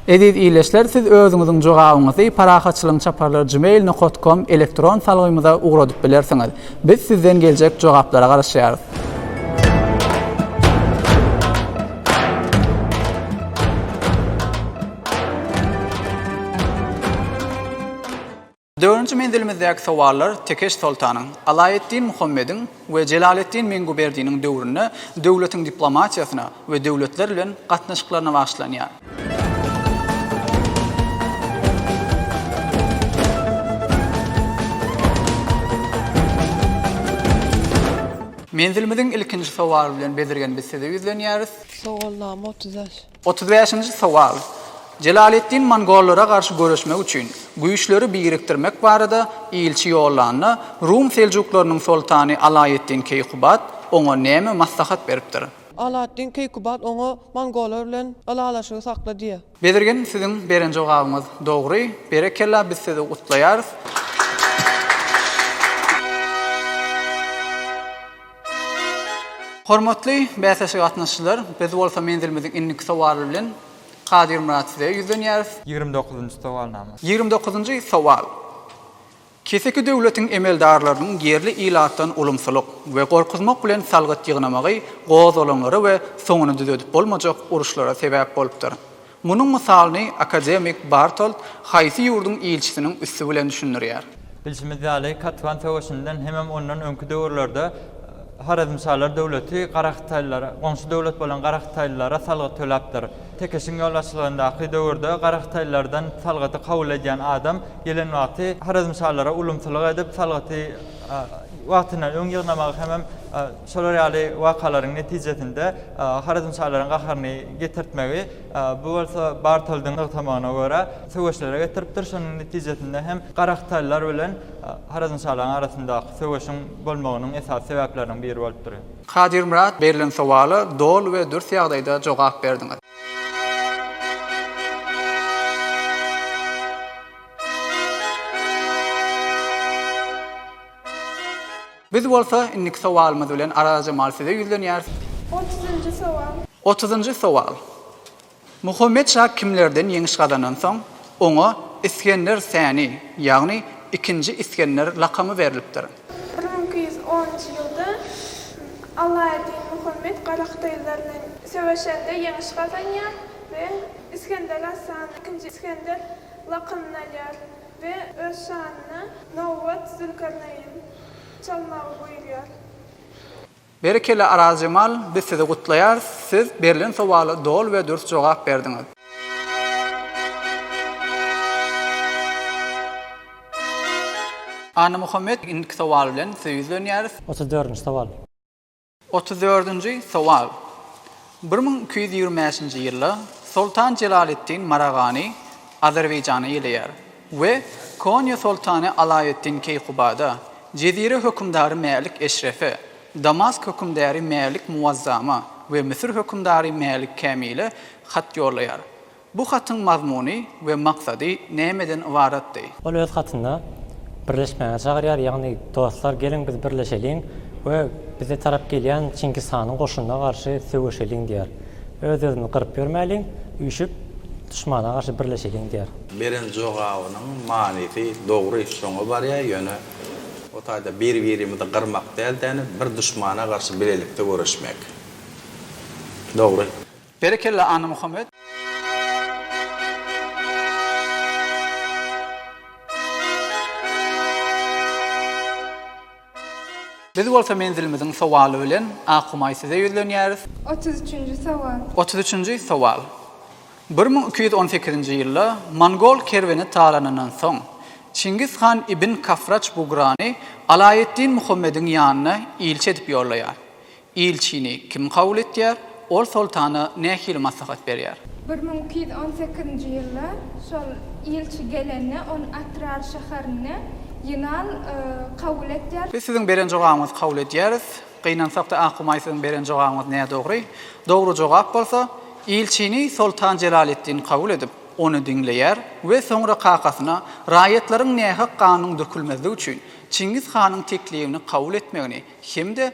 Eziz ildeşler, siz özüňiziň jogabyňyzy Parahatçylygyň çaparlary gmail nokat kom elektron salgymyza ugradyp bilersiňiz. Biz sizden geljek jogaplara garaşýarys. Dördünji menzilimizdäki sowallar Tekeş soltanyň, Alaeddin Muhammediň we Jelaleddin Menguberdiniň döwründe döwletiň diplomatiýasyna we döwletler bilen gatnaşyklaryna bagyşlanýar. Menzilimiziň ilkinji sowaly bilen bezirgen biz size ýüzlenýäris. Sowalnama otuz bäş. Otuz bäşinji sowal. Jelaleddin mongollara garşy göreşmek üçin, güýçleri birikdirmek barada ilçi ýollanda, rum seljuklarynyň soltany Alaeddin Keýkubat oňa näme maslahat beripdir? Alaeddin Keýkubat oňa mongollar bilen ylalaşygy sakla diýýär. Bezirgen siziň beren jogabyňyz dogry. Berekella biz sizi gutlaýarys. Hormatly bäsleşige gatnaşyjylar, biz bolsa menzilimiziň indiki sowaly bilen Kadyrmyrat size ýüzlenýäris. Ýigrimi dokuzynjy sowalnama. Ýigrimi dokuzynjy sowal. Keseki döwletiň emeldarlarynyň ýerli ilatdan ulumsylyk we gorkuzmak bilen salgyt ýygnamagy gozgalaňlara we soňuny düzedip bolmajak uruşlara sebäp bolupdyr. Munuň mysalyny akademik Bartolt haýsy ýurduň ilçisiniň üsti bilen düşündirýär? Bilşimiz ýaly, Katwan söweşinden hemem ondan öňki döwürlerde Horezmşalar döwleti garahytaýlylara, goňşy döwlet bolan garahytaýlylara salgyt töläpdir. Tekeşiň ýolbaşçylygyndaky döwürde garahytaýlylardan salgydy kabul edýän adam gelen wagty Horezmşalara ulumsylyk edip, salgyty wagtyndan öň ýygnamagy hemem Şolar ýaly wakalaryň netijesinde Horezmşalaryň gaharyny getirtmegi, bu bolsa Bartoldyň nygtamagyna görä, söweşlere getiripdir. Şonuň netijesinde hem Garahytaýlylar bilen Horezmşalaryň arasyndaky söweşiň bolmagynyň esasy sebäpleriniň biri bolupdyr. Kadyrmyrat, berlen sowala doly we dürs ýagdaýda jogap berdiňiz. Biz bolsa indiki sowalymyz bilen Arazjemal size ýüzlenýäris. Otuzynjy sowal. Otuzynjy sowal. Muhammet şa kimlerden ýeňiş gazandan soň, oňa Isgender Säni, ýagny Ikinji Isgender lakamy berlipdir? Bir müň iki ýüz onunjy ýylda Alaeddin Muhammet garahytaýlylar bilen söweşende ýeňiş gazanýar we Isgender Asan, Ikinji Isgender, lakamyny alýar. We öz şanyna Nowbat, Zülkarneýn, çalmagy buýurýar. Berekella Arazjemal biz sizi gutlaýarys siz berlen sowala doly we dürs jogap berdiňiz. Annamuhammet indiki sowal bilen size ýüzlenýäris. Otuz dördünji sowal. Otuz dördünji sowal. Bir müň iki ýüz ýigrimi bäşinji ýylda Soltan Jelaleddin Maragany Azerbaýjana geleýär we Konýa soltany Alaeddin Keýkubada, Jezire hökümdary Mälik Eşrefe, Damask hökümdäri Mälik Muwazzama we Müsür hökümdary Mälik Kämile hat ýollaýar. Bu hatyň mazmuny we maksady nämeden ybaratdy? Ol öz hatynda, Birleşmäge çagyrýar, ýagny, Dostlar, geliň biz birleşeliň we bize tarap gelýän Çingiz hanyň goşunyna garşy söweşeliň diýýär. Öz-özümizi gyryp ýörmäliň, üýşüp, duşmana garşy birleşeliň diýýär. Beren jogabynyň manysy dogry şoňa barýar, ýöne o taýda bir-birimizi gyrmak däl-de, bir duşmana garşy bilelikde göreşmek. Dogry. Berekella Annamuhammet. Biz bolsa menzilimiziň sowaly bilen Akhumaý size ýüzlenýäris. Otuz üçünji sowal. Otuz üçünji sowal. Bir müň iki ýüz on sekizinji ýylda mongol kerweni talanyndan soň, Çingiz han ibn Kafraç Bugrany Alaeddin Muhammediň ýanyna ilçi edip ýollaýar. Ilçini kim kabul etýär? Ol soltana nähili maslahat berýär? Bir müň iki ýüz on sekizinji ýylda şol ilçi gelende, ony Atrar şäherinde Ýynal kabul etýär. Biz siziň beren jogabyňyzy kabul edýäris. Gynansak-da Akumaý siziň beren jogabyňyz nädogry. Dogry jogap bolsa, ilçini soltan Jelaleddin kabul edip, ony diňleýär we soňra kakasyna raýatlaryň nähak ganynyň dökülmezligi üçin Çingiz hanyň teklibini kabul etmegini hem-de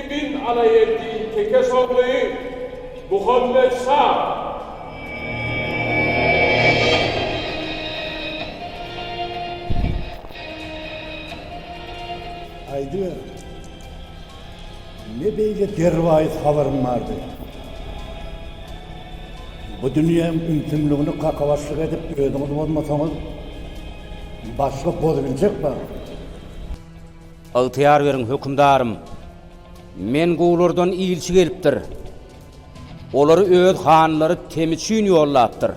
Ibn Alaeddin Tekes ogly Muhammet şa. Aýdyber, ne beýle derwaýys habaryň bardy? Bu dünýäň ümsümligini kakabaşlyk edip özüňiz bozmasaňyz, başga bozubiljek bar. Ygtyýar beriň, hökümdarym! Men guwlardan ilçi gelipdir. Olary öz hanlary Temüçin ýollapdyr.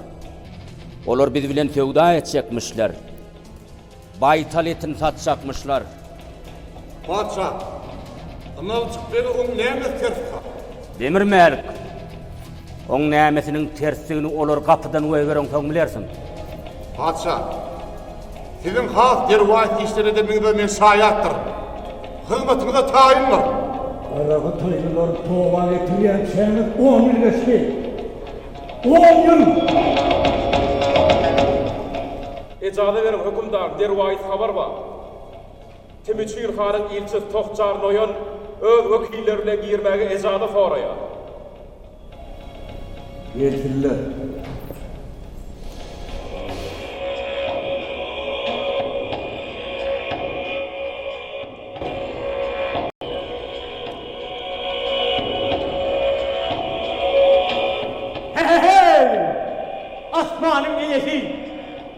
Olar biz bilen söwda etjekmişler. Baýtal etini satjakmyşlar. Patyşa, ynanjyk bege oň näme tersi bar? Demir Mälik! Oň nämesiniň tersdigini olar gapydan goýbereňsoň bilersiň. Patyşa, siziň has derwaýys işler edeniňize men şaýatdyr. Hyzmatyňyza taýyndyr. Garagytaýlylar toba getirýänçäňiz on ýyl geçdi. On ýyl! Ejaza beriň, hökümdar, derwaýys habar bar. Temüçin hanyň ilçisi Tohjar Noýon öz wekilleri bilen girmäge ejaza soraýar. Nesiller. He-he-heý! Asmanyň eýesi!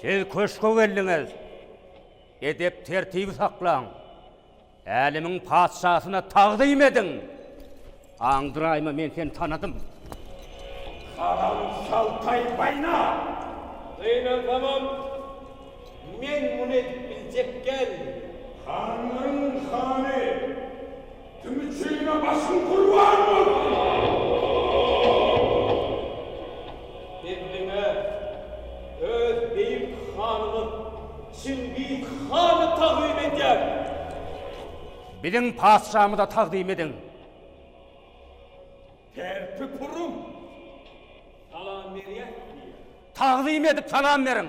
Siz köşge geldiňiz. Edep-tertibi saklaň. Älemiň patyşasyna tagzym ediň. Aňdyraýma men seni tanadym. Haram şaltaý baýna! Gynansamam, men muny edip biljek däl. Hanlaryň hany! Kim üçine başyň gurban bolsun. Endiňe öz beýik hanymyz Çingiz hany tagzym edýärin. Biziň patyşamyza tagzym ediň. Tertip uruň. Salam berýäs diýýär. Tagzym edip salam beriň.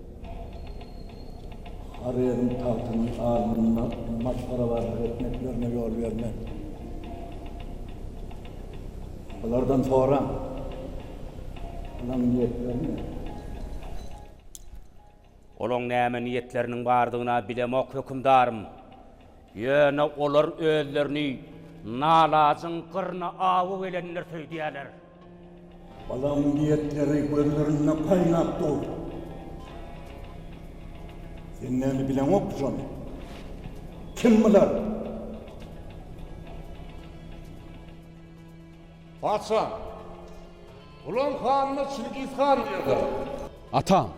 Horezm tagtynyň alnynda masgarabarlyk etmeklerine ýol bermän, bulardan soraň, olaň niýetleri näme? Olaň näme niýetleriniň bardygyna bilemok, hökümdarym. Ýöne olar özlerini nalajyň gyryna awy gelendir söýdýärler. Balamyň diýetleri gözlerinden gaýnap dur. Sen näme bileňok şony? Kim bular? Patyşam, bularyň hanyna Çingiz han diýerler. Atam,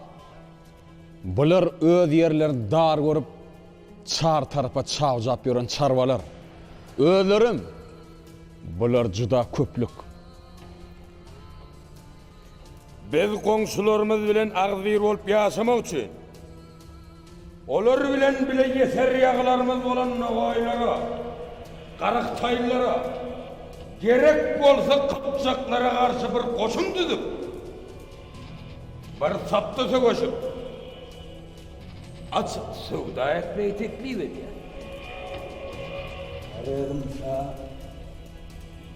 bular öz ýerlerini dar görüp, Çar tarapa çawjap ýören çarwalar özlerem bular juda köplük. Biz goňşularymyz bilen agzybir bolup ýaşamak üçin, olar bilen bile ýeser ýaglarymyz bolan nogaýlara, garyk-taýlara, gerek bolsa kypjaklara garşy bir goşun düzüp, bir tapda söweşip, Açyk söwda etmegi teklip edýär. Horezm şa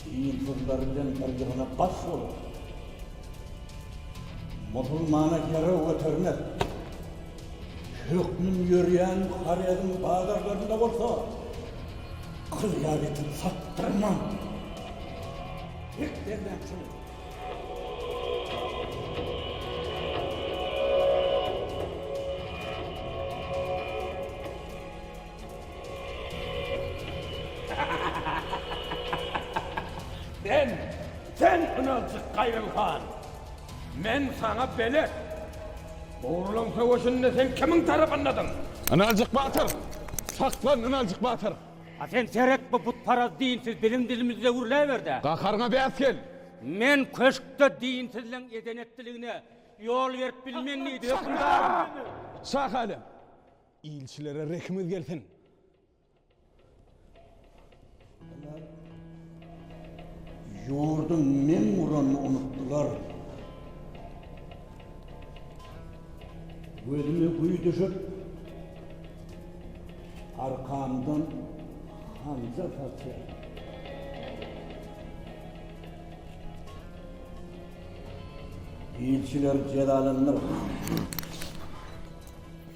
dinsyzlar bilen birjigine baş bolup, musulmana herew götermek hökmün ýörýän Horezm bazarlarynda bolsa gyz ýaly ýitip satdyrman, hek derýan çyny. Sen, sen ynanjyk Gaýrym han! Men saňa belet! Ogurlaň söweşinde sen kimiň tarapyndadyň? Ynanjyk batyr! Saklan, Ynanjyk batyr! A sen seret bu butparaz dinsiz biziň dilimizde gürläberde. Gaharyňa bäs gel. Men köşkde dinsizligiň eden-etdiligine ýol berip bilmen diýdi hökümdarym. Şah Älem! Ilçilere rehimiz gelsin! Ýurduň meň guranyny unutdylar. Gözüme güý düşüp, arkamdan hanjar saçýar. Ilçiler jezalandyr.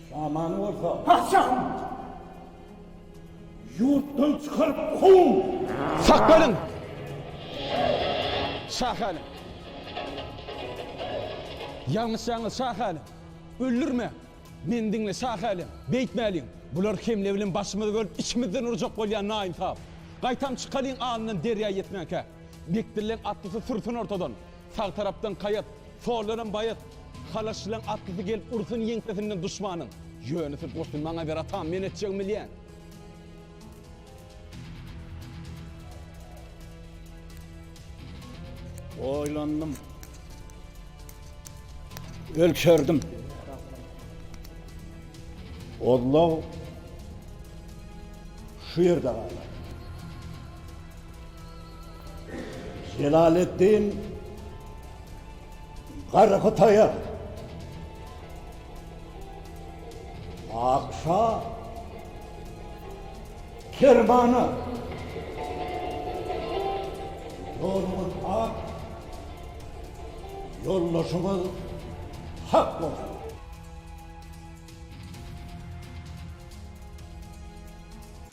Şamany bolsa. Patyşahym! Ýurtdan çykaryp kow! Sakgalyň! Şahalyň! Ýalňyşýaňyz Şahalyň! Öldürme! Meni diňle Şahalyň! Beýtmäliň! Bular hemle bilen başymyzy bölüp içimizden urjak bolýan naýynsap! Gaýtam çykalyň alnyndan derýa ýetmänkä! Bekdilleň atlysy sürsün ortadan! Sag tarapdan kaýat, sollaram baýat, Halaşçylaň atlysy gelip ursun ýeňsesinden duşmanyň. Ýönüsi goşun maňa ber atam, men etjegimi bilýän. Oýlandym. Ölçerdim. Ozlaw şu ýerde galar. Jelaleddin Garhytaýa Akşa Kermana Ýoluňyz ak Ýoldaşyňyz hak bolsun.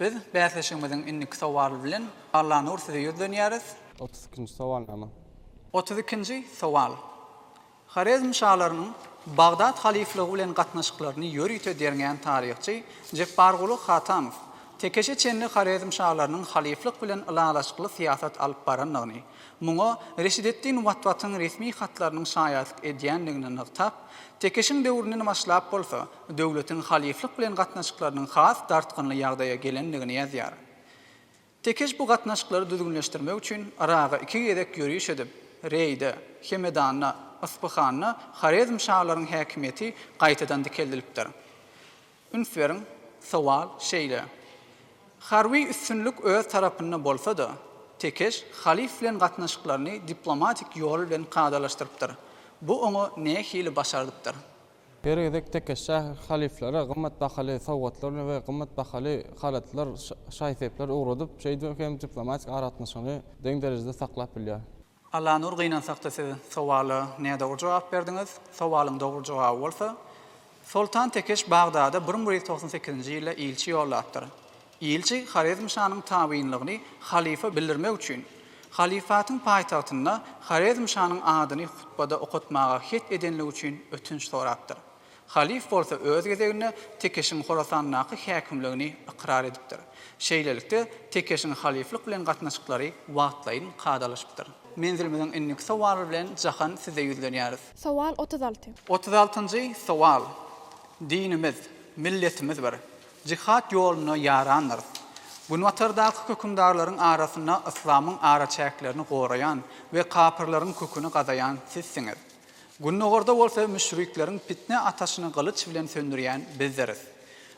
Biz bäsleşigimiziň indiki sowaly bilen Allanur size ýüzlenýäris. Otuz ikinji sowalnama. Otuz ikinji sowal. Horezm şalarynyň Bagdat halyflygy bilen gatnaşyklaryny ýörite derňän taryhçy Jepbarguly Hatanow Tekeşe çenli Horezm şalarynyň halyflyk bilen ylalaşykly syýasat alyp barandygyny, muňa Reşideddin Watwatyň resmi hatlarynyň şaýatlyk edýändigini nygtap, Tekeşiň döwründen başlap bolsa, döwletiň halyflyk bilen gatnaşyklarynyň has dartgynly ýagdaýa gelendigini ýazýar. Tekeş bu gatnaşyklary düzgünleşdirmek üçin Yraga iki gezek ýöriş edip, Reýde, Hemedanda, Yspyhanda Horezm şalaryň häkimiýeti gaýtadan dikeldilipdir. Üns beriň, sowal şeýle, Harby üstünlik öz tarapynda bolsa-da, Tekeş halyf bilen gatnaşyklaryny diplomatik ýol bilen kadalaşdyrypdyr. Bu oňa nähili başardypdyr? Her gezek tekesha halyflara gymmat bahaly sowgatlar we gymmat bahaly halatlar, şaý-sepler ugradyp, şeýdip hem diplomatik aragatnaşygyny deň derejede saklap bilýär. Allanur gynansakda siz sowala nädogry jogap berdiňiz. Sowalyň dogry jogaby bolsa, Soltan Tekeş Bagdada bir müň bir ýüz togsan sekizinji ýylda ilçi ýollapdyr. Ilçi Horezmşanyň tabynlygyny halyfa bildirmek üçin, halyfatyň paýtagtynda Horezmşanyň adyny hutbada okatmaga het edenligi üçin ötünç sorapdyr. Halyf bolsa öz gezeginde Tekeşiň Horasandaky häkimligini ykrar edipdir. Şeýlelikde, Tekeşiň halyflyk bilen gatnaşyklary wagtlaýyn kadalaşypdyr. Menzilimiziň indiki sowaly bilen Jahan size ýüzlenýäris. Sowal otuz alty. Otuz altynjy sowal. Dinimiz, milletimiz bir. Jihad ýoluna ýarandyrys. Günbatardaky hökümdarlaryň arasynda yslamyň araçäklerini goraýan we kapyrlaryň köküni gazaýan sizsiňiz. Gündogarda bolsa müşrikleriň pitne ataşyny gylyç bilen söndürýän bizdiris.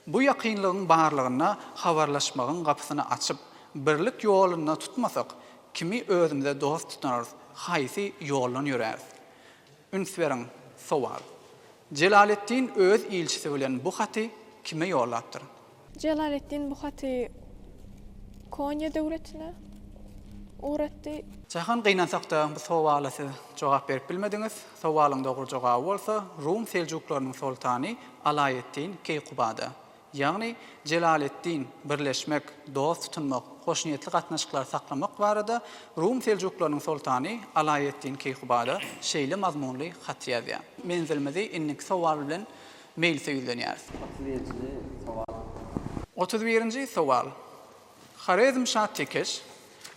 Bu ýakynlygyň barlygynda habarlaşmagyň gapysyny açyp, birlik ýolunda tutmasak, kimi özümize dost tutanarys, haýsy ýoldan ýöräris? Üns beriň! Sowal. Jelaleddin öz ilçisi bilen bu haty kime ýollapdyr? Jelaleddin bu haty Konýa döwletine ugratdy. Jahan gynansakda bu sowala siz jogap berip bilmediňiz. Sowalyň dogry jogaby bolsa Rum Seljuklarynyň soltany Alaeddin Keýkubada. ýagny Jelaleddin, birleşmek, dost tutunmak, hoşniýetli gatnaşyklary saklamak barada Rum seljuklarynyň soltany Alaeddin Keýkubada şeýle mazmunly hat ýazýar. Menzilimizi indiki sowal bilen meýlishe ýüzlenýäris. Otuz birinji sowal. Otuz birinji sowal. Horezmşa Tekeş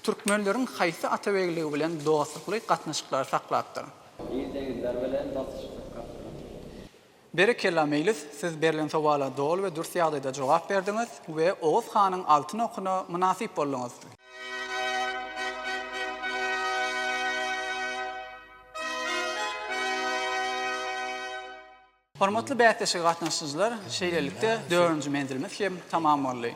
türkmenleriň haýsy atabegligi bilen dostlukly gatnaşyklary saklapdyr? Ýigide ýüzler bilen dostlukly gatnaşyklary saklapdyr. Berekella Meýlis siz berlen sowala doly we dürs ýagdaýda jogap berdiňiz we Oguz hanyň altyn okuna mynasyp bolduňyz. Hormatly bäsleşige gatnaşyjylar, şeýlelikde dördünji menzilimiz hem tamam boldy.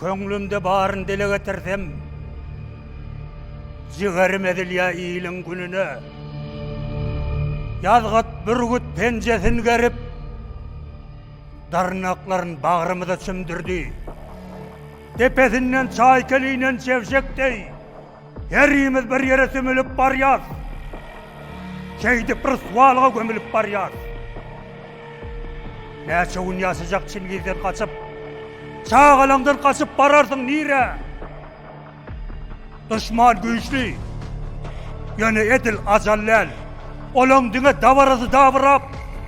Köňlümde baryny dile getirsem, Jigerim ezilýä iliň gününe. Ýazgyt bürgüt penjesin gerip, Dyrnaklaryn bagrymyza çümdürdi. Depesinden çaýkel inen çebşek deý, Herimiz bir ýere sümülip barýarys. Şeýdip ryswalyga gömülip barýarys. Näçe gün ýaşajak Çingizden gaçyp? Çagalaňdan gaçyp bararsyň nire? Duşman güýçli. Ýöne edil ajal däl. Olaň diňe dabarasy dabyrap,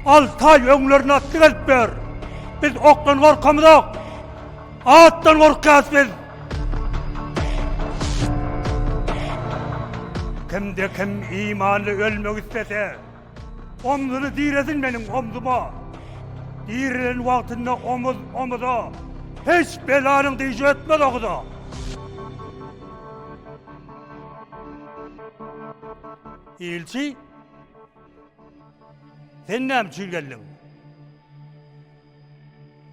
alty aý öňlerine atly gelip ber. Biz okdan gorkamyzok. Atdan gorkýas biz. Kimde kim imanly ölmek istese, omzuny diresin meniň omzuma. Dirilen wagtynda omuz omuza, hiç belanyň dişi ötmez oguza. Ilçi, sen näme üçin geldiň?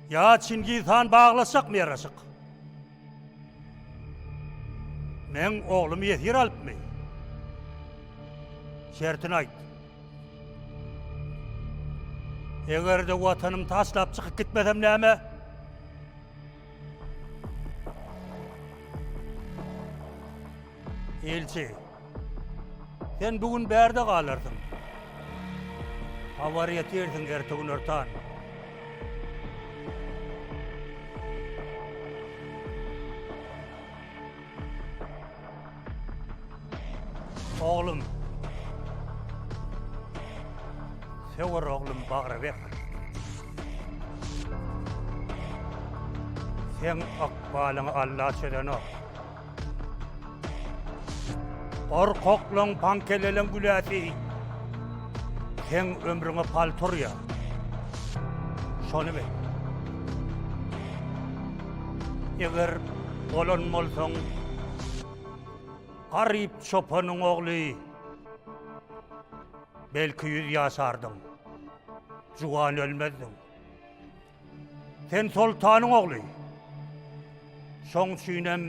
Ýa Çingiz han baglaşjakmy ýaraşyk? Meň oglumy ýesir alypmy? Şertini aýt. Eger-de watanymy taşlap çykyp gitmesem näme? Elçi. Sen bu gün bärde galarsyň. Hawar ýetirsiň ertegün örtan. Oglum. Söwer oglum bagra ber. Sen akbalyňy Allah çözenok. Gorkaklaň pankeleleň güläsi Seň ömrüňe paltur ya Şony bil Eger bolan bolsaň Garyp çopanyň ogly Belki ýüz ýaşardyň Juwan ölmezdiň Sen soltanyň ogly. Şoň üçinem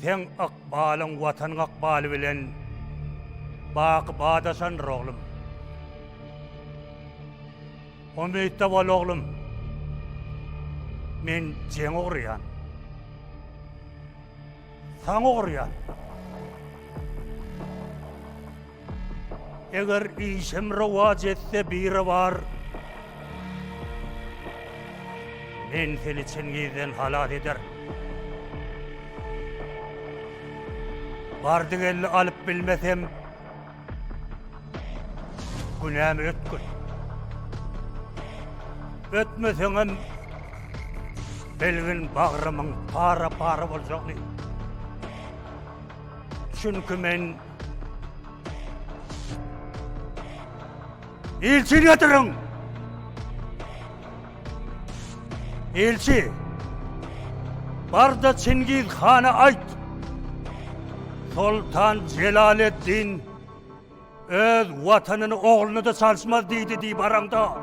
seň ykbalyň watanyň ykbaly bilen baky badaşandyr, oglum. Umytda bol, oglum. Men jeň urýan. Saňa urýan. Eger işim rowaç etse biri bar. Men seni Çingizden halas eder. Bardy geldi alyp bilmesem, Günämi ötgür. Ötmeseňem belgin bagrymyň para-para boljagyny. Çünki men Ilçi getirin! Elçi, barda Çingiz hana aýt, Soltan Jelaleddin öz watanyny ogluny da çalşmaz diýdi diýip aramda.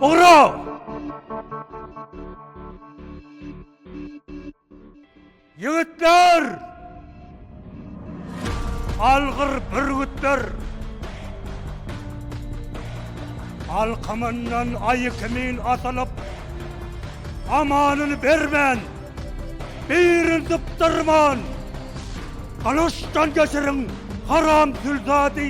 Ura! Ýigitler! Algyr bürgütler! Alkymyndan aýy kimin asylyp, amanyny bermän, birini dypdyrman, gylyçdan geçiriň, haram zülzady!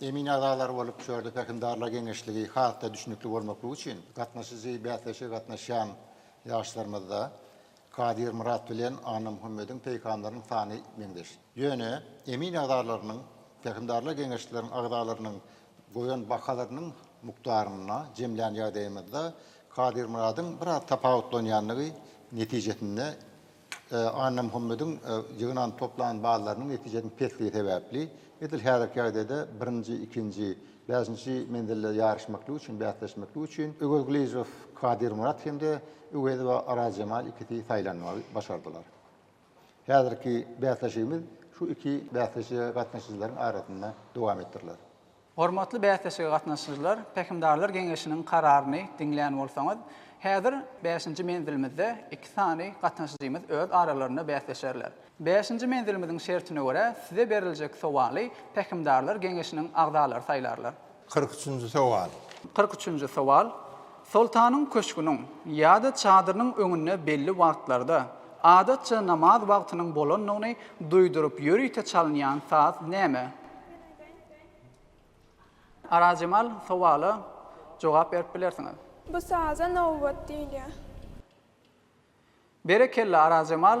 Emin agzalary bolup şörde pähimdarlar geňeşligi has-da düşnükli bolmaklygy üçin gatnaşyjy bäsleşige gatnaşýan ýaşlarymyzda Kadyr Myrat bilen Annamuhammediň peýkamlarynyň sany meňzeş. Ýöne emin agzalarynyň pähimdarlar geňeşleriň agzalarynyň goýan bahalarynyň mukdaryna jemlän ýagdaýymyzda Kadyr Myradyň biraz tapawutlanýandygy netijesinde Annamuhammediň ýygnan-toplan ballarynyň netijesiniň pesligi sebäpli, edil häzirki ýagdaýda birinji, ikinji, bäşinji menzilde ýaryşmaklyk üçin, bäsleşmeklik üçin Öwez Gylyjow, Kadyrmyrat hem-de Öwezowa Arazjemal ikisi saýlanmagy başardylar. Häzirki bäsleşigimiz şu iki bäsleşige gatnaşyjylaryň arasynda dowam etdiriler. Hormatly bäsleşige gatnaşyjylar, Pähimdarlar geňeşiniň kararyny diňlän bolsaňyz, häzir bäşinji menzilimizde iki sany gatnaşyjymyz öz aralarynda bäsleşerler. Bäşinji menzilimiziň şertine görä, size beriljek sowaly Pähimdarlar geňeşiniň agzalary saýlarlar. Kyrk üçünji sowal. Kyrk üçünji sowal. Soltanyň köşgüniň ýa-da çadyrynyň öňünde belli wagtlarda, adatça namaz wagtynyň bolandygyny duýduryp ýörite çalynýan saz näme? Arazjemal sowala jogap berip bilersiňiz. Bu saza nowbat diýilýär. Berekella Arazjemal.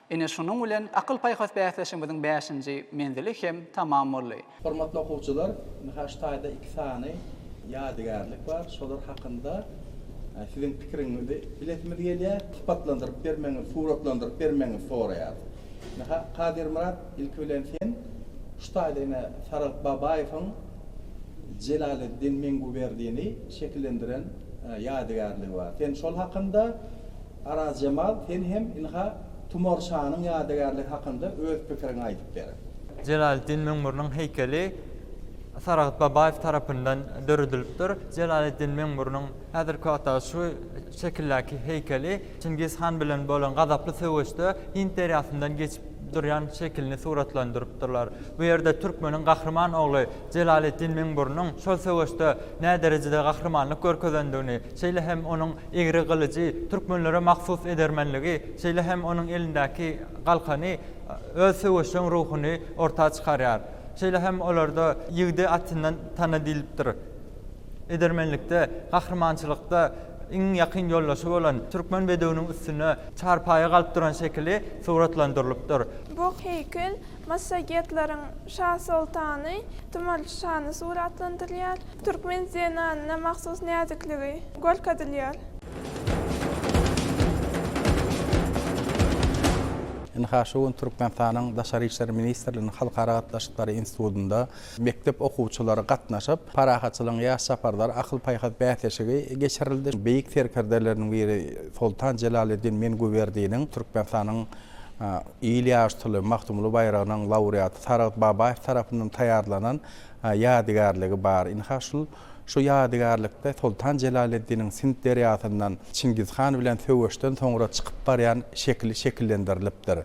Ine şunuň bilen akyl-paýhas bäsleşigimiziň bäşinji menzili hem tamam boldy. Hormatly okuwçylar, ynha şu taýda iki sany ýadygärlik bar, şolar hakynda siziň pikiriňizi bilesimiz gelýär. Sypatlandyryp bermegiňizi, suratlandyryp bermegiňizi soraýarys. Ynha, Kadyrmyrat, ilki bilen sen şu taýda ine Saragt Babaýewiň Jelaleddin Menguberdini şekillendiren ýadygärligi bar. Sen şol hakynda. Arazjemal sen hem ynha Tumar şanyň ýadygärligi hakynda öz pikiriňi aýdyp ber. Jelaleddin Meňmüriniň heýkeli Saragt Babaýew tarapyndan döredilipdir. Jelaleddin Meňmüriniň häzirki wagtdaky şu şekildäki heýkeli Çingiz han bilen bolan gazaply söweşde Hind derýasyndan geçip durýan şekilini suratlandyrypdyrlar. Bu ýerde türkmeniň gahryman ogly Jelaleddin Meňmüriniň şol söweşde näderejede gahrymanlyk görkezendigini, şeýle hem onuň Egri gylyjy, türkmenlere mahsus edermenligi, şeýle hem onuň elindäki galkany öz söweşjeň ruhuny orta çykarýar. Şeýle hem olarda Ýigidi atyndan tana diýlipdir. Edermenlikde, gahrymançylykda iň ýakyn ýoldaşy bolan türkmen bedewiniň üstünde çarpaýa galyp duran şekili suratlandyrylypdyr. Bu heýkel Massagetleriň şa-soltany, Tumarçy şany suratlandyrylýar. Türkmen zenanyna mahsus näzikligi görkezilýär. Ynha, şu gün Türkmenistanyň Daşary işler ministrliginiň Halkara gatnaşyklary institutynda mekdep okuwçylary gatnaşyp, Parahatçylygyň ýaş çaparlary akyl-paýhas bäsleşigi geçirildi. Beýik serkerdeleriniň biri Soltan Jelaleddin Mengüberdiniň Türkmenistanyň Il ýaşytly Magtymguly baýragynyň laureaty Saragt Babaýew tarapyndan taýýarlanan ýadygärligi bar. Ynha, şul şu ýadygärlikde Soltan Jelaleddiniň Sind derýasyndan Çingiz han bilen söweşden soňra çykyp barýan şekili şekillendirilipdir.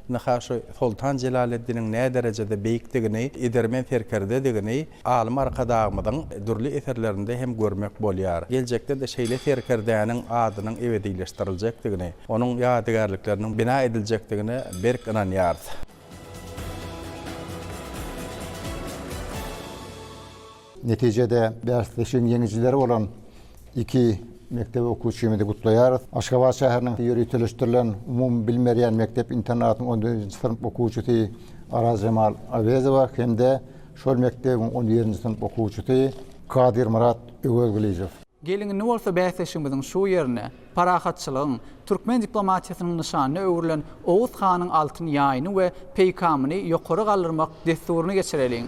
Ynha, şu Soltan Jelaleddiniň näderejede beýikdigini, edermen serkerdedigini, Alym Arkadagymyzyň dürli eserlerinde hem görmek bolýar. Geljekde-de şeýle serkerdäniň adynyň ebedileşdiriljekdigini, onuň ýadygärlikleriniň bina ediljekdigine berk ynanýarys. Netijede, bäsleşigiň ýeňijileri bolan iki mekdep okuwçymyzy gutlaýarys. Aşgabat şäheriniň ýöriteleşdirilen umumybilim berýän mekdep-internatynyň on dördünji synp okuwçysy Arazjemal Awezowa hem-de Şol mekdebiň on birinji synp okuwçysy Kadyrmyrat Öwezgylyjow. Gelindi bolsa bäsleşigimiziň şu ýerine parahatçylygyň, türkmen diplomatiýasynyň nyşanyna öwrülen Oguz hanyň altyn ýaýyny we peýkamyny ýokary galdyrmak dessuryny geçireliň.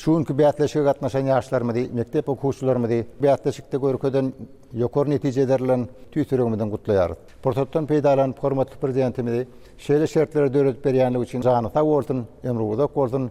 Şu günki bäsleşige gatnaşan ýaşlarymyzy, mekdep okuwçylarymyzy bäsleşikde görkezen ýokary netijeleri bilen tüýs ýüregimizden gutlaýarys. Pursatdan peýdalanyp, hormatly Prezidentimizi şeýle şertleri döredip berýänligi üçin jany sag bolsun, ömri uzak bolsun!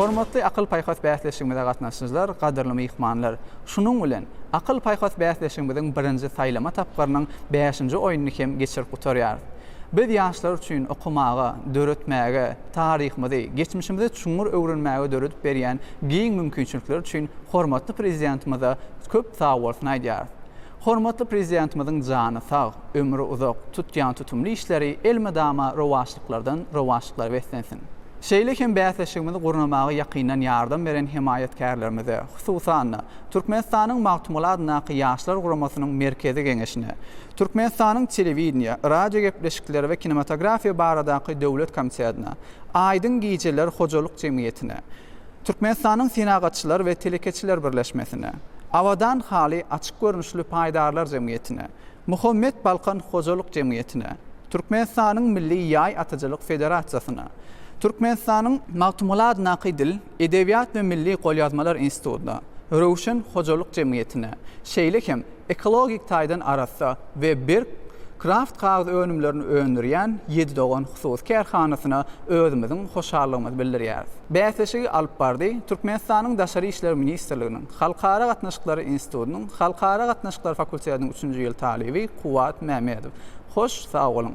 Hormatly akyl-paýhas bäsleşigimize gatnaşyjylar, gadyrly myhmanlar! Şunuň bilen, akyl-paýhas bäsleşigimiziň birinji saýlama tapgyrynyň bäşinji oýnuny hem geçirip gutarýarys. Biz ýaşlar üçin okamaga, döretmäge, taryhymyzy, geçmişimizi çuňňur öwrenmäge döredip berýän giň mümkinçilikler üçin hormatly Prezidentimize köp sagbolsun aýdýarys. Hormatly Prezidentimiziň jany sag, ömri uzak, tutýan tutumly işleri elmydama rowaçlyklardan rowaçlyklara beslensin! Şeýle hem bäsleşigimizi gurnamaga ýakyndan ýardam beren hemaýatkärlerimize, hususan-da, Türkmenistanyň Magtymguly adyndaky Ýaşlar guramasynyň Merkezi Geňeşine, Türkmenistanyň Telewideniýe, radiogepleşikler we kinematografiýa baradaky döwlet komitetine, Aýdyň gijeler hojalyk jemgyýetine, Türkmenistanyň Senagatçylar we telekeçiler birleşmesine, Abadan haly açyk görnüşli paýdarlar jemgyýetine, Muhammet Balkan hojalyk jemgyýetine, Türkmenistanyň Milli ýaý atyjylyk federasiýasyna, Türkmenistanyň. Magtymgulad Naky dil, edebiýat we milli golýazmalar institutyna, Röwşen hojalyk jemgyýetine, şeýle hem. Ekologik taýdan arassa we berk Kraft kagyz önümlerini öndürýän Ýedi dogan hususy kärhanasyna özümiziň hoşallygymyzy bildirýäris. Bäsleşigi alyp bardy Türkmenistanyň Daşary işler ministrliginiň Halkara gatnaşyklary institutynyň Halkara gatnaşyklary fakultetiniň üçünji ýyl talyby Kuwwat Mämedow. Hoş sag boluň!